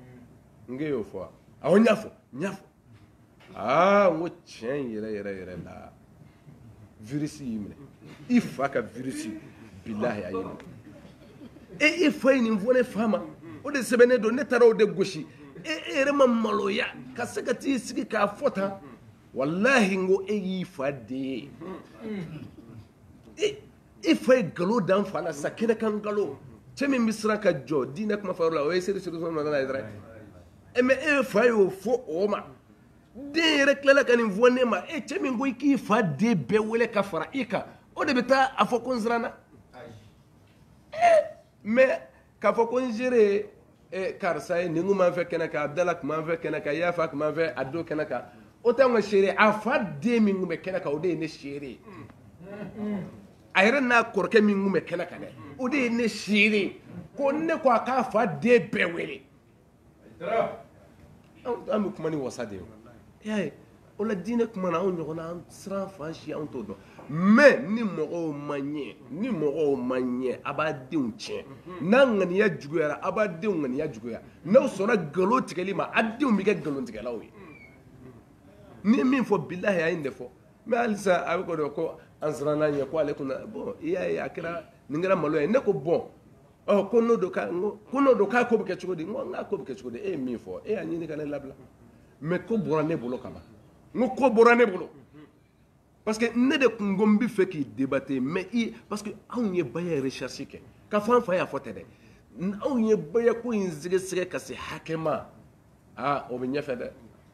n k'e y'o fɔ wa awɔ n y'a fɔ n y'a fɔ aa n ko tiɲɛ yɛrɛ yɛrɛ yɛrɛ la virisi y'i minɛ i fa ka virisi bilahi a y'i minɛ e e fa ye nin fɔ ne fa ma o de sɛbɛnnen don ne taara o de gosi e e yɛrɛ ma maloya ka se ka t'i sigi k'a fɔ tan walahi n ko e y'i fa den ye e fa ye galo da n fa la sa kɛnɛ kan galo cɛ min bɛ siran ka jɔ diinɛ kuma fɔyɔrɔ la o ye seri seri sɔrɔ nana ye dɛ ɛ mɛ e fa y'o fɔ o ma den yɛrɛ tilala ka nin fɔ ne ma e cɛ min ko i k'i fa den bɛɛ wele ka fara i kan o de bɛ taa a fɔ ko n siranna mɛ k'a fɔ ko n seere eh, karisa ye nin kun b'an fɛ kɛnɛ kan abdala kun b'an fɛ kɛnɛ kan yafa kun b'an fɛ a don kɛnɛ kan o tɛ anw ka seere a fa den min kun bɛ kɛnɛ kan o de ye ne seere ye a yɛrɛ n'a kɔrɔkɛ min kun bɛ kɛnɛ kan dɛ o de ye ne seere ko ne ko a k'a fa den bɛɛ wele an bɛ kuma ni wasa de ye y'a ye o la diinɛ kuma na anw ɲɔgɔn na an siran fan si anw t'o dɔn mais ni mɔgɔw ma ɲɛ ni mɔgɔw ma ɲɛ a b'a denw tiɲɛ n'a ŋaniya juguyara a b'a denw ŋaniya juguya n'a sɔnna nkalon tigɛli ma a denw bɛ kɛ nkalon tigɛlaw ye n'i ye min fɔ bilahi a ye nin de fɔ mais halisa a b'a kɔnɔ ko an siranna ɲɛ ko ale kunna bɔn i y'a ye a kɛra nin kɛra malo ye ne ko bon ɔ ko n'o don k'a ko n'o don k'a ko bɛ kɛ cogo di n ko n k'a ko bɛ kɛ cogo di e ye min fɔ e y'a ɲini ka ne labila mais ko bɔra ne bolo ka ban n ko ko bɔra ne bolo parce que ne de tun ko n b'a fɛ k'i debate mais parce que anw ye baya recherche kɛ k'a fɔ an fa y'a fɔ tɛ dɛ anw ye bayako in sɛgɛsɛgɛ ka se hakɛ ma aa o bɛ ɲɛfɛ dɛ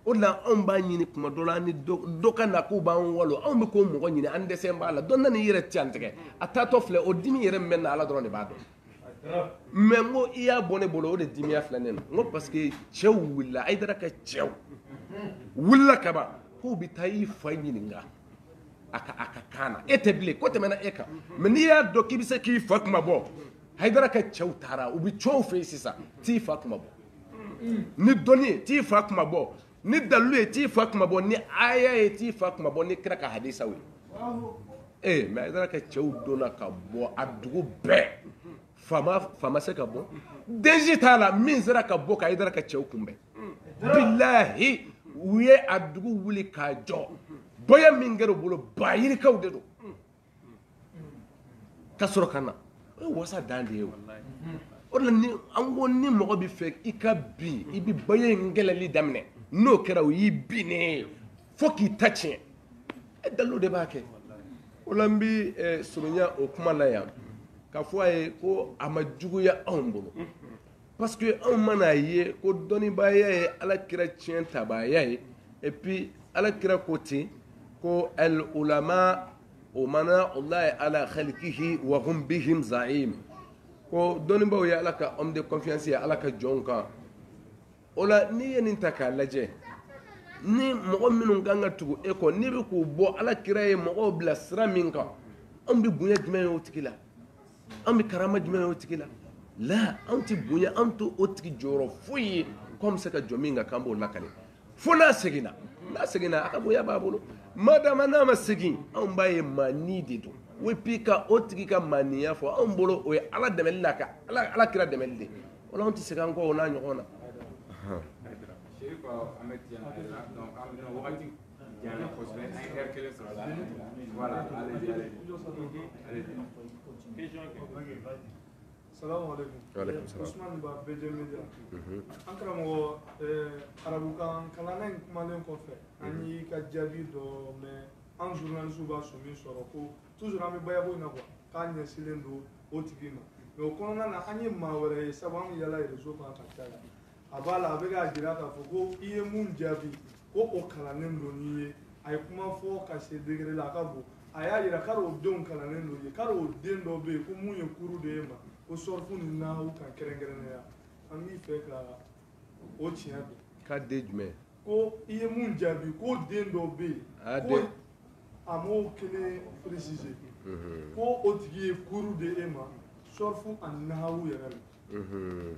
o de la anw b'a ɲini tuma dɔ la an ni dɔ ka na k'u b'an walo anw bɛ k'o mɔgɔ ɲini an dɛsɛ b'a la dɔ nana i yɛrɛ tiɲɛ tigɛ a taatɔ filɛ o dimi yɛrɛ min bɛ n na ala dɔrɔn de b'a dɔn mais n ko i y'a bɔ ne bolo o de dimiya filɛ ne na n ko parce que cɛw wulila a ye tard kɛ cɛw wulila kaban k'u bɛ taa i fa ɲininka a ka a ka kan na e tɛ bilen ko tɛmɛna e kan mais n'i y'a dɔn k'i bɛ se k'i fa kunmabɔ hayidara ka cɛw taara u bɛ cɛw fɛ yen sisan t'i fa kunmabɔ ni dɔnni ye t'i fa kunmabɔ ni dalilu ye t'i fa kunmabɔ ni aya ye t'i fa kunmabɔ ni kira ka hadisaw ye ee mais a taara kɛ cɛw donna ka bɔ a dugu bɛɛ faama faama se ka bɔ denji t'a la min sera ka bɔ ka i taara ka cɛw kunbɛn bilahi u ye a dugu wuli k'a jɔ bonya min kɛra u bolo bayirikaw de don ka sɔrɔ ka na o ye wasa dan de ye o o la ni an ko ni mɔgɔ b'a fɛ i ka bin i bɛ baya in kɛlɛli daminɛ n'o kɛra o y'i binnen ye fo k'i ta tiɲɛ e dalilu de b'a kɛ o la n bɛ eh, surunya o kuma la yan k'a fɔ a ye ko a ma juguya anw bolo parce que anw man'a ye ko dɔnnibaaya ye ala kira tiɲɛtabaaya ye et puis ala kira ko ten ko al ulama umana allahi ala khalkihi wa hum bihim zaim ko dɔnnibaw ye ala ka homme de confiance ye ala ka jɔnw kan o la n'i ye nin ta k'a lajɛ ni mɔgɔ minnu kan ka tugu e kɔ n'i bɛ k'u bɔ ala kira ye mɔgɔw bila sira min kan anw bɛ bonya jumɛn ye o tigi la an bɛ karama jumɛn o tigi la la an tɛ bonya an t'o tigi jɔyɔrɔ foyi ye ko bɛ se ka jɔ min kan kan b'o la ka fo n'a seginna n'a seginna a ka bonya b'a bolo madama n'a ma segin anw b'a ye maanin de don o bi ka o tigi ka maaninya fɔ anw bolo o ye ala dɛmɛ la ka ala kira dɛmɛ de wala anw tɛ segin an kɔ o n'a ɲɔgɔn na Usman ba bɛɛ an karamɔgɔ ka arabukan kalan in kumalen kɔfɛ an y'i ka jaabi dɔ mɛ an zurunalisiw b'a so min sɔrɔ ko tuzuru an bɛ bayako na kuwa k'an ɲɛsinlen don o tigi ma mɛ o kɔnɔna na an ye maa wɛrɛ ye sabu an yaalala erezo kan ka caya a b'a la a bɛ k'a jira k'a fɔ ko i ye mun jaabi ko o kalannen don n'i ye a ye kuma fɔ ka se degere la a ka bon a y'a yira k'a o denw kalannen don ye k'a o den dɔ bɛ yen ko min ye kuru di e ma ko sɔrɔfu ni nahawu kan kɛrɛnkɛrɛnnenya an b'i fɛ ka o tiɲɛ dɔn ka den jumɛn ko i ye mun jaabi ko den dɔ bɛ yen ah, ko a m'o kelen précisé mhm. ko o tigi ye kuru di e ma sɔrɔfu ani nahawu yɛrɛ la mhm.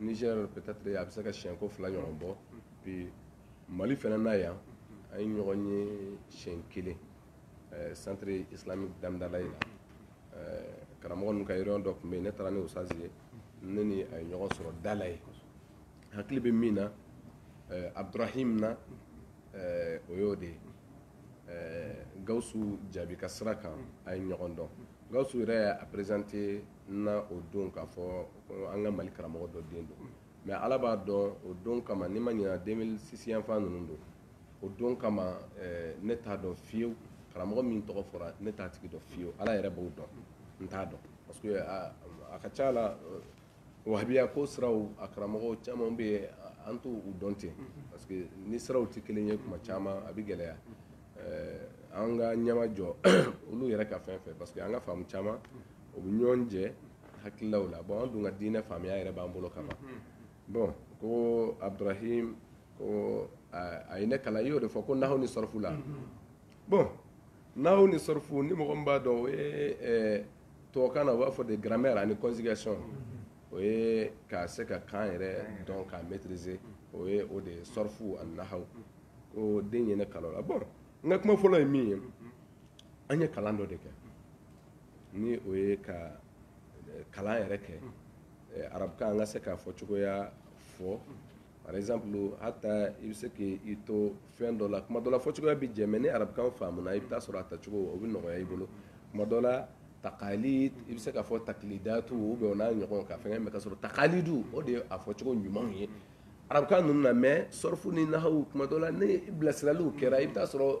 ni sɛ pɛtɛtiri a bɛ se ka siyɛn ko fila ɲɔgɔn bɔ bi mali fana na yan an ye ɲɔgɔn ye siyɛn kelen santire islami damidalaye la karamɔgɔ ninnu ka yɔrɔ dɔ tun bɛ yen ne taara ni usitazi ye ne ni a ye ɲɔgɔn sɔrɔ dalaye hakili bɛ min na abdurahim na o y'o de ye gawusu jaabi ka sira kan a ye ɲɔgɔn dɔn gawusu yɛrɛ a perezante n na o don k'a fɔ an ka mali karamɔgɔ dɔ den don mɛ ala b'a dɔn o don kama ni n ma ɲina 2006 yanfan ninnu don o don kama eh, ne t'a dɔn fewu karamɔgɔ min tɔgɔ fɔra ne t'a tigi dɔn fewu ala yɛrɛ b'o dɔn n t'a dɔn parce que a, a ka ca la eh, wahabiya ka siraw a karamɔgɔw caman bɛ yen an t'u dɔn ten parce que ni siraw tɛ kelen ye kuma caman a bɛ gɛlɛya eh, an ka ɲɛma jɔ olu yɛrɛ ka fɛn fɛ parce que an ka faamu caman o bɛ ɲɔgɔn jɛ hakililaw la bɔn an dun ka diinɛ faamuya yɛrɛ b'an bolo kama bɔn ko abdurahim ko a ye ne kalan i y'o de fɔ ko nahaw ni sɔrɔfu la bɔn nahaw ni sɔrɔfu ni mɔgɔ b'a dɔn o ye tubabukan na u b'a fɔ de garamɛri ani kɔnzigɛzɔn o ye k'a se ka kan yɛrɛ dɔn k'a mɛtirize o ye o de ye sɔrɔfu ani nahaw ko den ye ne kalan a la bɔn n ka kuma fɔlɔ ye min ye an ye kalan dɔ de kɛ ni o ye ka eh, kalan yɛrɛ kɛ eh, arabukan an ka se k'a fɔ cogoya fɔ par exemple hata i bɛ se k'i to fɛn dɔ la kuma dɔ la fɔ cogoya bɛ jɛ mais ni arabukan faamuna i bɛ t'a sɔrɔ a tacogo o bɛ nɔgɔya i bolo kuma dɔ la takali i bɛ se k'a fɔ takilidatu ou bien o n'a ɲɔgɔn ka fɛnkɛ mais ka sɔrɔ takalidu o de ye a fɔcogo ɲuman ye arabukan ninnu na mais sɔrɔfu ni nahawu kuma dɔ la ni bilasiraliw kɛra i bɛ t'a sɔrɔ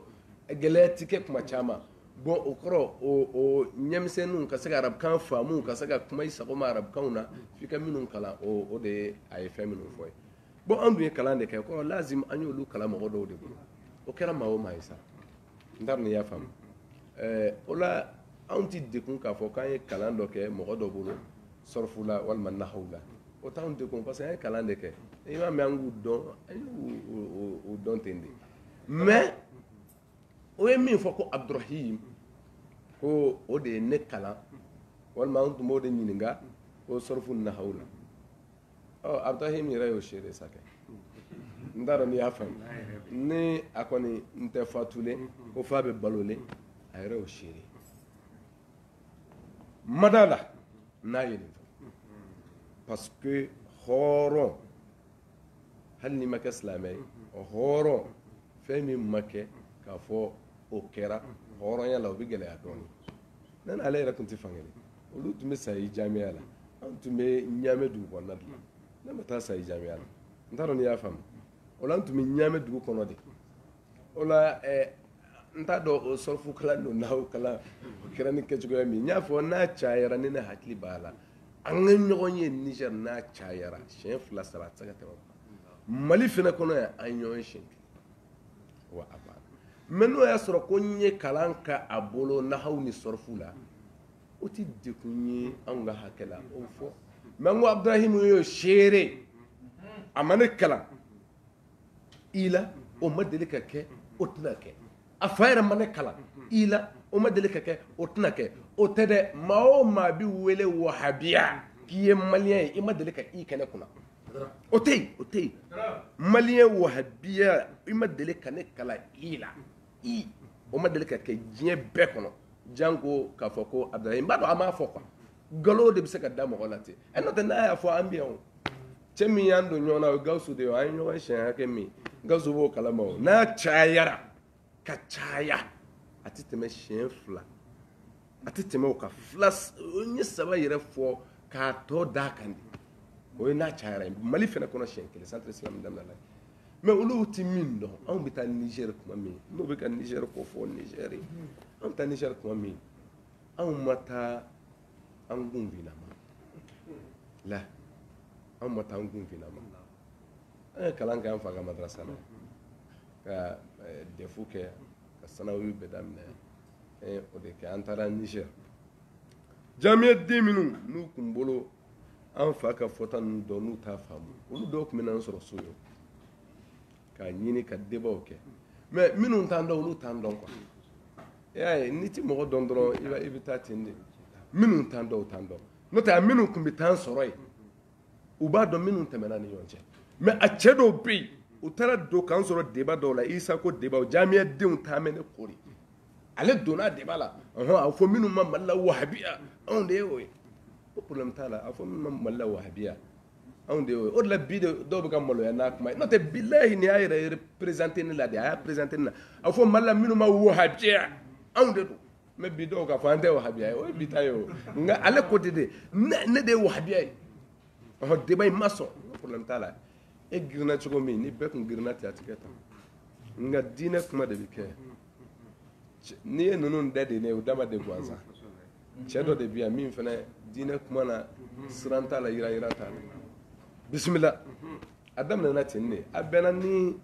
gɛlɛya ti kɛ kuma caman bɔn o kɔrɔ o ɲɛmisɛnninw ka se ka arabukan faamu ka se ka kuma i sago ma arabukan na f'i ka minnu kalan o de ye a ye fɛn minnu fɔ ye bɔn an dun ye kalan de kɛ kɔrɔ lazim an y'olu kalan mɔgɔ dɔw de bolo o kɛra maa o maa ye sa n t'a dɔn n'i y'a faamu eh, o la anw ti dɛgun k'a fɔ k'an ye kalan dɔ kɛ mɔgɔ dɔ bolo sɔrɔfu la walima nahaw la o t'anw dɛgun parce que an ye kalan de kɛ i m'a mɛn an k'u dɔn an y'u dɔn ten de mais o ye min fɔ ko abdurahim ko o de ye ne kalan walima n tun b'o de ɲininka ko sɔrɔfu nahaw la ɔ abdurahim yɛrɛ y'o seere sa kɛ n t'a dɔn n'i y'a faamu ni a kɔni tɛ fatulen ko f'a bɛ balolen a yɛrɛ y'o seere mada la n'a ye nin fɔ parce que hɔrɔn hali n'i ma kɛ silamɛ ye hɔrɔn fɛn min ma kɛ k'a fɔ o kɛra hɔrɔnya la o bɛ gɛlɛya dɔɔnin ne n'ale yɛrɛ tun tɛ fan kelen olu tun bɛ sayi jamiya la an tun bɛ ɲaamɛ dugu kɔnɔna de la ne ma taa sayi jamiya la n t'a dɔn n'i y'a faamu o la an tun bɛ ɲaamɛ dugu kɔnɔ de o la eh, n t'a dɔn o sɔrɔfu kalan don nahaw kalan o kɛra ni kɛcogoya min n y'a fɔ n'a cayara ne ne hakili b'a la an ka ɲɔgɔn ye niger n'a cayara siɲɛ fila saba a tɛ se ka tɛmɛ mali fana kɔnɔ yan an ɲɔgɔn ye siɲɛ kelen wa a banna mais n'o y'a sɔrɔ ko n ye kalan kɛ a bolo nahaw ni sɔrɔfu la o tɛ dɛgun ye anw ka hakɛ la o fɔ mais n ko abdurahim y'o seere a ma ne kalan i la o ma deli ka kɛ o tɛna kɛ a fa yɛrɛ ma ne kalan i la o ma deli ka kɛ o tɛna kɛ o tɛ dɛ maa o maa bɛ wele wahabiya k'i ye malien ye i ma deli ka i kɛ ne kunna o tɛ yen o tɛ yen malien wahabiya i ma deli ka ne kalan i la i o ma deli ka kɛ diɲɛ bɛɛ kɔnɔ janko k'a fɔ ko abdurahim n b'a dɔn a m'a fɔ quoi nkalon de bɛ se ka da mɔgɔ la ten ɛ n'o tɛ n'a y'a fɔ an bɛ yan o cɛ min y'an don ɲɔgɔn na o ye gawusu de ye an ye ɲɔgɔn siɲɛ hakɛ min gawusu b'o kalama o n'a cayara ka caya a tɛ tɛmɛ siɲɛ fila a tɛ tɛmɛ o ka fila ye saba yɛrɛ fɔ k'a tɔ d da kan di o ye n'a cayayara ye mali fana kɔnɔ si kelen san tɛ sira min daminɛ la mɛ olu tɛ min dɔn anw bɛ taa niger tuma min n'o bɛ ka niger ko fɔ niger anw bɛ taa niger tuma min anw ma taa an kun ma la anw ma taa an kun ma an ye kalan kɛ an fa ka madarasa la ka eh, defu kɛ ka sanawi daminɛ eh, o de kɛ an taara niger jamiyaden minnu n'u tun bolo an fa ka fɔta ninnu dɔn n'u t'a faamu olu dɔw tun bɛ n'an sɔrɔ so yo k'a ɲini ka debaw kɛ mɛ minnu t'an dɔn olu t'an dɔn kuwa i y'a ye n'i ti mɔgɔ dɔn dɔrɔn i bɛ taa ten de minnu t'an dɔn o t'an dɔn n'o tɛ a minnu tun bɛ taa an sɔrɔ yen u b'a dɔn minnu tɛmɛna an ni ɲɔgɔn cɛ mɛ a cɛ dɔw bɛ yen u taara don k'an sɔrɔ deba dɔw la isa ko deba o jamiyadenw taamɛ ne kori ale donna deba la a fɔ minnu ma mali la wahabiya anw de ye o ye ko problème t'a la a fɔ minnu ma mali la wahabiya anw de ye o ye o de la bi de dɔw bɛ ka maloya n'a kuma ye n'o tɛ bilahi nin y'a yɛrɛ présenter ne la de a y'a présenter ne la a fɔ mali la minnu ma wahabiya anw de don mɛ bi dɔw k'a fɔ an tɛ wahabiya ye o ye bi ta ye o nka ale ko ten de ne de ye wahabiya ye ɔhɔ deba in ma sɔn problème t'a la e girinna cogo min ni bɛɛ tun girinna ten a tɛ kɛ tan nka diinɛ kuma de bɛ kɛ n'i ye ninnu da de ne o dama de gansan cɛ dɔ de bɛ yan min fana diinɛ kuma na siran t'a la yira yira t'a la bisimila a daminɛna ten de a bɛnna ni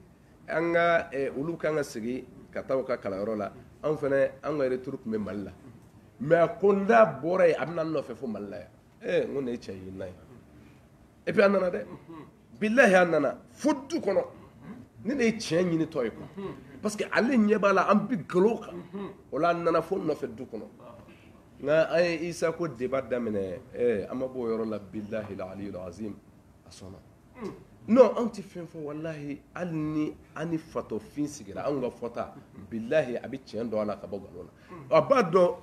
an ka eh, olu kan ka sigi ka taa u ka kalanyɔrɔ la anw fana an ka retour tun bɛ mali la mɛ a ko n da bɔra yen a bɛ na n nɔfɛ fo mali la yan ee eh, n ko nin ye cɛ ye na ye epi a nana dɛ bilahi a nana fo du kɔnɔ ne de ye tiɲɛ ɲinitɔ ye kuwa parce que ale ɲɛ b'a la an bi galo kan o la a nana fo n nɔfɛ du kɔnɔ nka an ye isa ko deba daminɛ ee eh, an ma b'o yɔrɔ la bilahi la aliyu azim a sɔnna anw tɛ fɛn fɔ walahi hali ni an ni fatɔfin sigira anw ka fɔta bilayi a bɛ tiɲɛ dɔn la ka bɔ nkalon na a b'a dɔn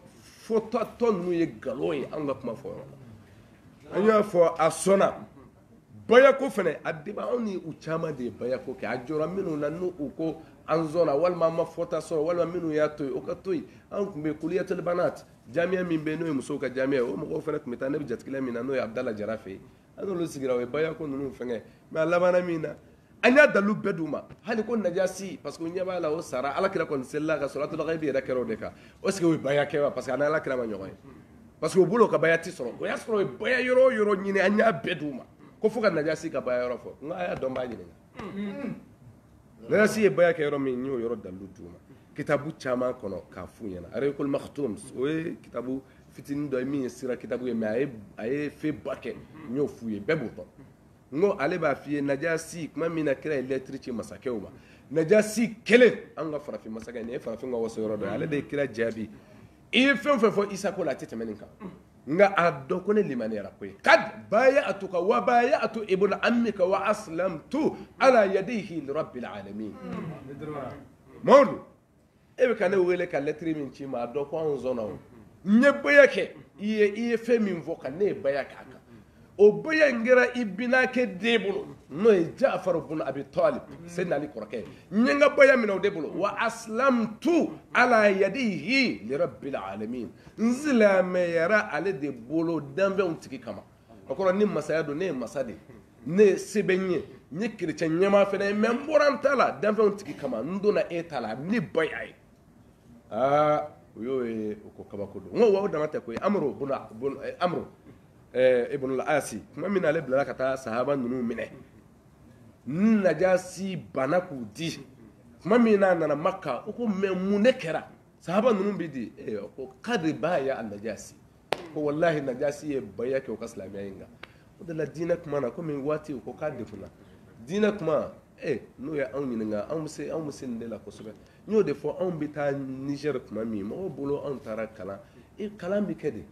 fɔta tɔ in ye nkalon ye an ka kuma fɔ la an y'a fɔ a sɔnna baya ko fana a de anw ni u caman de ye baya ko kɛ a jɔ minnu na n' u ko an walima an ma fɔta sɔrɔ walima minnu y'a to o ka to anw tun bɛ kuliyatul banat jamiya min bɛ n'o ye musow ka jamiya o mɔgɔw fana tun bɛ taa ne bɛ jatigi min na n'o ye' da jara fɛ an n'olu sigira o ye baya ko ninnu fɛngɛ mɛ a labanna min na an y'a dalu bɛɛ d'u ma hali ko najasi parce que u ɲɛ b'a la o sara ala kira kɔni selila a kan salatul gayibi yɛrɛ kɛra o de kan est-ce que o ye baya kɛ wa parce que a ni ala kira ma ɲɔgɔn ye parce que o bolo ka baya ti sɔrɔ o y'a sɔrɔ o ye baya yɔrɔ o yɔrɔ ɲini an y'a bɛɛ d'u ma ko fo ka najasi ka baya yɔrɔ fɔ n ko a y'a dɔn b'a ɲininka najasi ye baya kɛ yɔrɔ min n y'o yɔrɔ dalilu d'u ma kitabu caman kɔnɔ k'a f'u ɲɛna arekol maktum o ye kitabu fitinin dɔ ye min ye sira kitabu ye mɛ a ye a ye fe ba kɛ n y'o f'u ye bɛɛ b'o dɔn n ko ale b'a f'i ye najasi tuma min na kira ye lɛtiri ci masakɛw ma najasi kelen an ka farafin masakɛ nin ye farafin ka waso yɔrɔ dɔ ye ale de ye kira jaabi i ye fɛn o fɛn fɔ Isa ko la a tɛ tɛmɛ nin kan nka a dɔn ko ne limaniyara koyi kad baya'atuka wa baya'atu ibna ammika wa aslamtu ala yadihi li rabbil alamin Mamadu e bɛ ka ne wele ka lɛtiri min ci n ma a dɔn ko anw sɔnna o n ye baya kɛ i ye i ye fɛn min fɔ ka ne ye baya kɛ a kan o baya in kɛra i binakɛ den bolo n'o ye jafaru bun abi talib seyidina ali kɔrɔkɛ ye n ye n ka baya minɛ o de bolo wa aslamtu ala yadihi lirabbil alamin n silamɛyara ale de bolo danfɛnw tigi kama o kɔrɔ ni masaya don ne ye masa de ye ne ye sebe n ye n ye kerecɛn ɲɛmaa fana ye mɛ n bɔra n ta la danfɛnw tigi kama n donna e ta la ni baya ye aa o y'o ye o ko kabako don n ko wa o dama tɛ koyi amro bun amro ɛɛ ibunul asi tuma min na ale bilara ka taa sahaba ninnu minɛ ni najasi bana k'u di tuma min n'a nana maka o ko mɛ mun de kɛra sahaba ninnu bɛ di ee ko kad baya'a najasi ko walahi najasi ye baya kɛ o ka silamɛya in kan o de la diinɛ kuma na komi waati o ko k'a degunna diinɛ kuma ee n'o ye anw ɲininka anw bɛ se anw bɛ se nin de la kosɛbɛ n y'o de fɔ anw bɛ taa nizɛri tuma min mɔgɔw bolo anw taara kalan e kalan bɛ kɛ de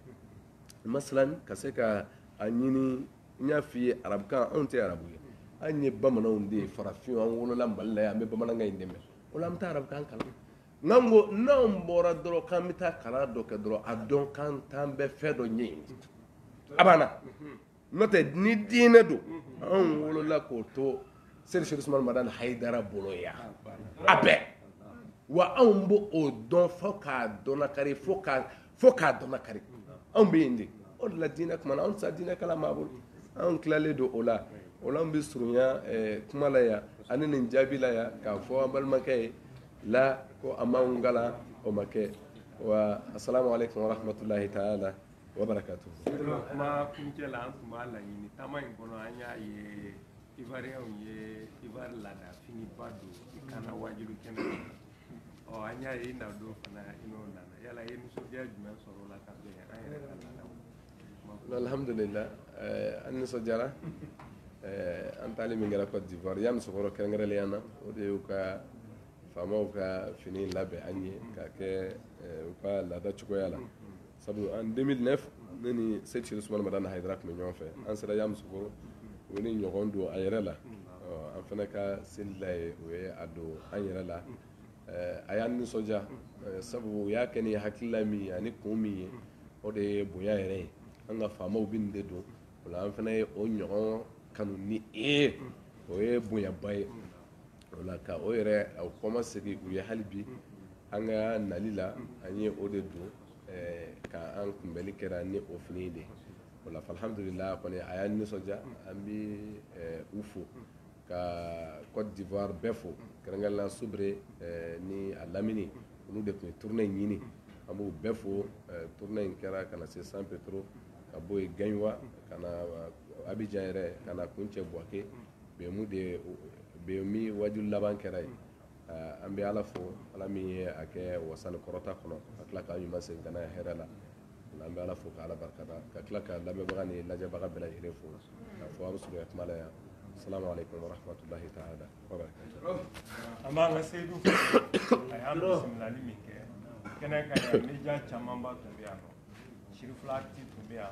masalan ka se ka a ɲini n y'a f'i ye arabukan anw tɛ arabu ye an ye bamananw de ye farafin an wolola mali la yan an bɛ bamanankan in de mɛn o la an bɛ taa arabukan kalan n'an ko n'anw bɔra dɔrɔn k'an bɛ taa kalan dɔ kɛ dɔrɔn a dɔn k'an t'an bɛ fɛn dɔ ɲɛɲini a banna n'o tɛ ni diinɛ don anw wolola k'o to seyidi serifu usumani madani hayidara bolo yan a bɛɛ wa anw b' oo dɔn fo k'a dɔn kari fo k' fo k'a dɔn kari anw bɛ yen de o la diinɛ kuma anw sa diinɛ kala ma bolo anw tilalen don o la o anw bɛ surunya kuma la yan ani nin jaabi la yan k'a fɔ an balimakɛ ye la ko a ma'an ga o ma kɛ wa asalamu alekum warahmatulahi taala wa barakatu kuma kuncɛ la an tun b'a laɲini taama in kɔnɔ an y'a ye ivariyɛnw ye ivari laada finiba don i kan na waajuli kɛnɛ ɔ an y'a ye i na don fana i n'o nana yala i ye nisɔndiya jumɛn sɔrɔ o la ka bɛn an yɛrɛ ka laadaw alhamdulillah eh, an nisɔndiyara eh, an taali min kɛra cote d'ivoire yamoussoukro kɛrɛnkɛrɛnnenya na o de y'u ka faamaw ka fini labɛn an ye k'a kɛ eh, u ka laada cogoya la sabu an 2009 ne ni sek sirifu usumana madani hayidara tun bɛ ɲɔgɔn fɛ an sera Yamusokoro o ye nin ɲɔgɔn don a yɛrɛ la an fana ka seli la yen o ye a don an yɛrɛ la a y'an nisɔndiya sabu o y'a kɛ ni hakilila min ye ani kun min ye o de ye bonya yɛrɛ ye an ka faamaw bɛ nin de don o la an fana ye o ɲɔgɔn kanu ni e ye o ye bonyaba ye ala ka o yɛrɛ o kɔmasegin u ye hali bi an ka nali la an ye o de don ka an kunbɛli kɛra ni o fini de o la alhamdulila kɔni a y'an nisɔndiya an bi u fo ka Côte d'Ivoire bɛɛ fo kɛrɛnkɛrɛnnenya Subre ni a lamini olu de tun ye tournée in ɲini an b'u bɛɛ fo tournée in kɛra ka na se San Pedro ka bɔ yen Gaɲuwa ka na Abidjan yɛrɛ ka na kuncɛ Buwake bɛnmu de ye bɛn min waaju laban kɛra yen an bɛ ala fo ala min ye a kɛ wasa ni kɔrɔta kɔnɔ ka tila k'an ɲuman segin ka na hɛrɛ la an bɛ ala fo ka ala barika da ka tila ka lamɛnbaga ni lajɛbaga bɛɛ lajɛlen fo ka fɔ aw suguya kuma la yan salamu alaikum warahmatullahi ta'ala wabarakatuhu an b'an ka seyidu fo a ye bisimilali min kɛ kɛnɛ kan yan media camanba tun bɛ yan nɔ sirifila TV tun bɛ yan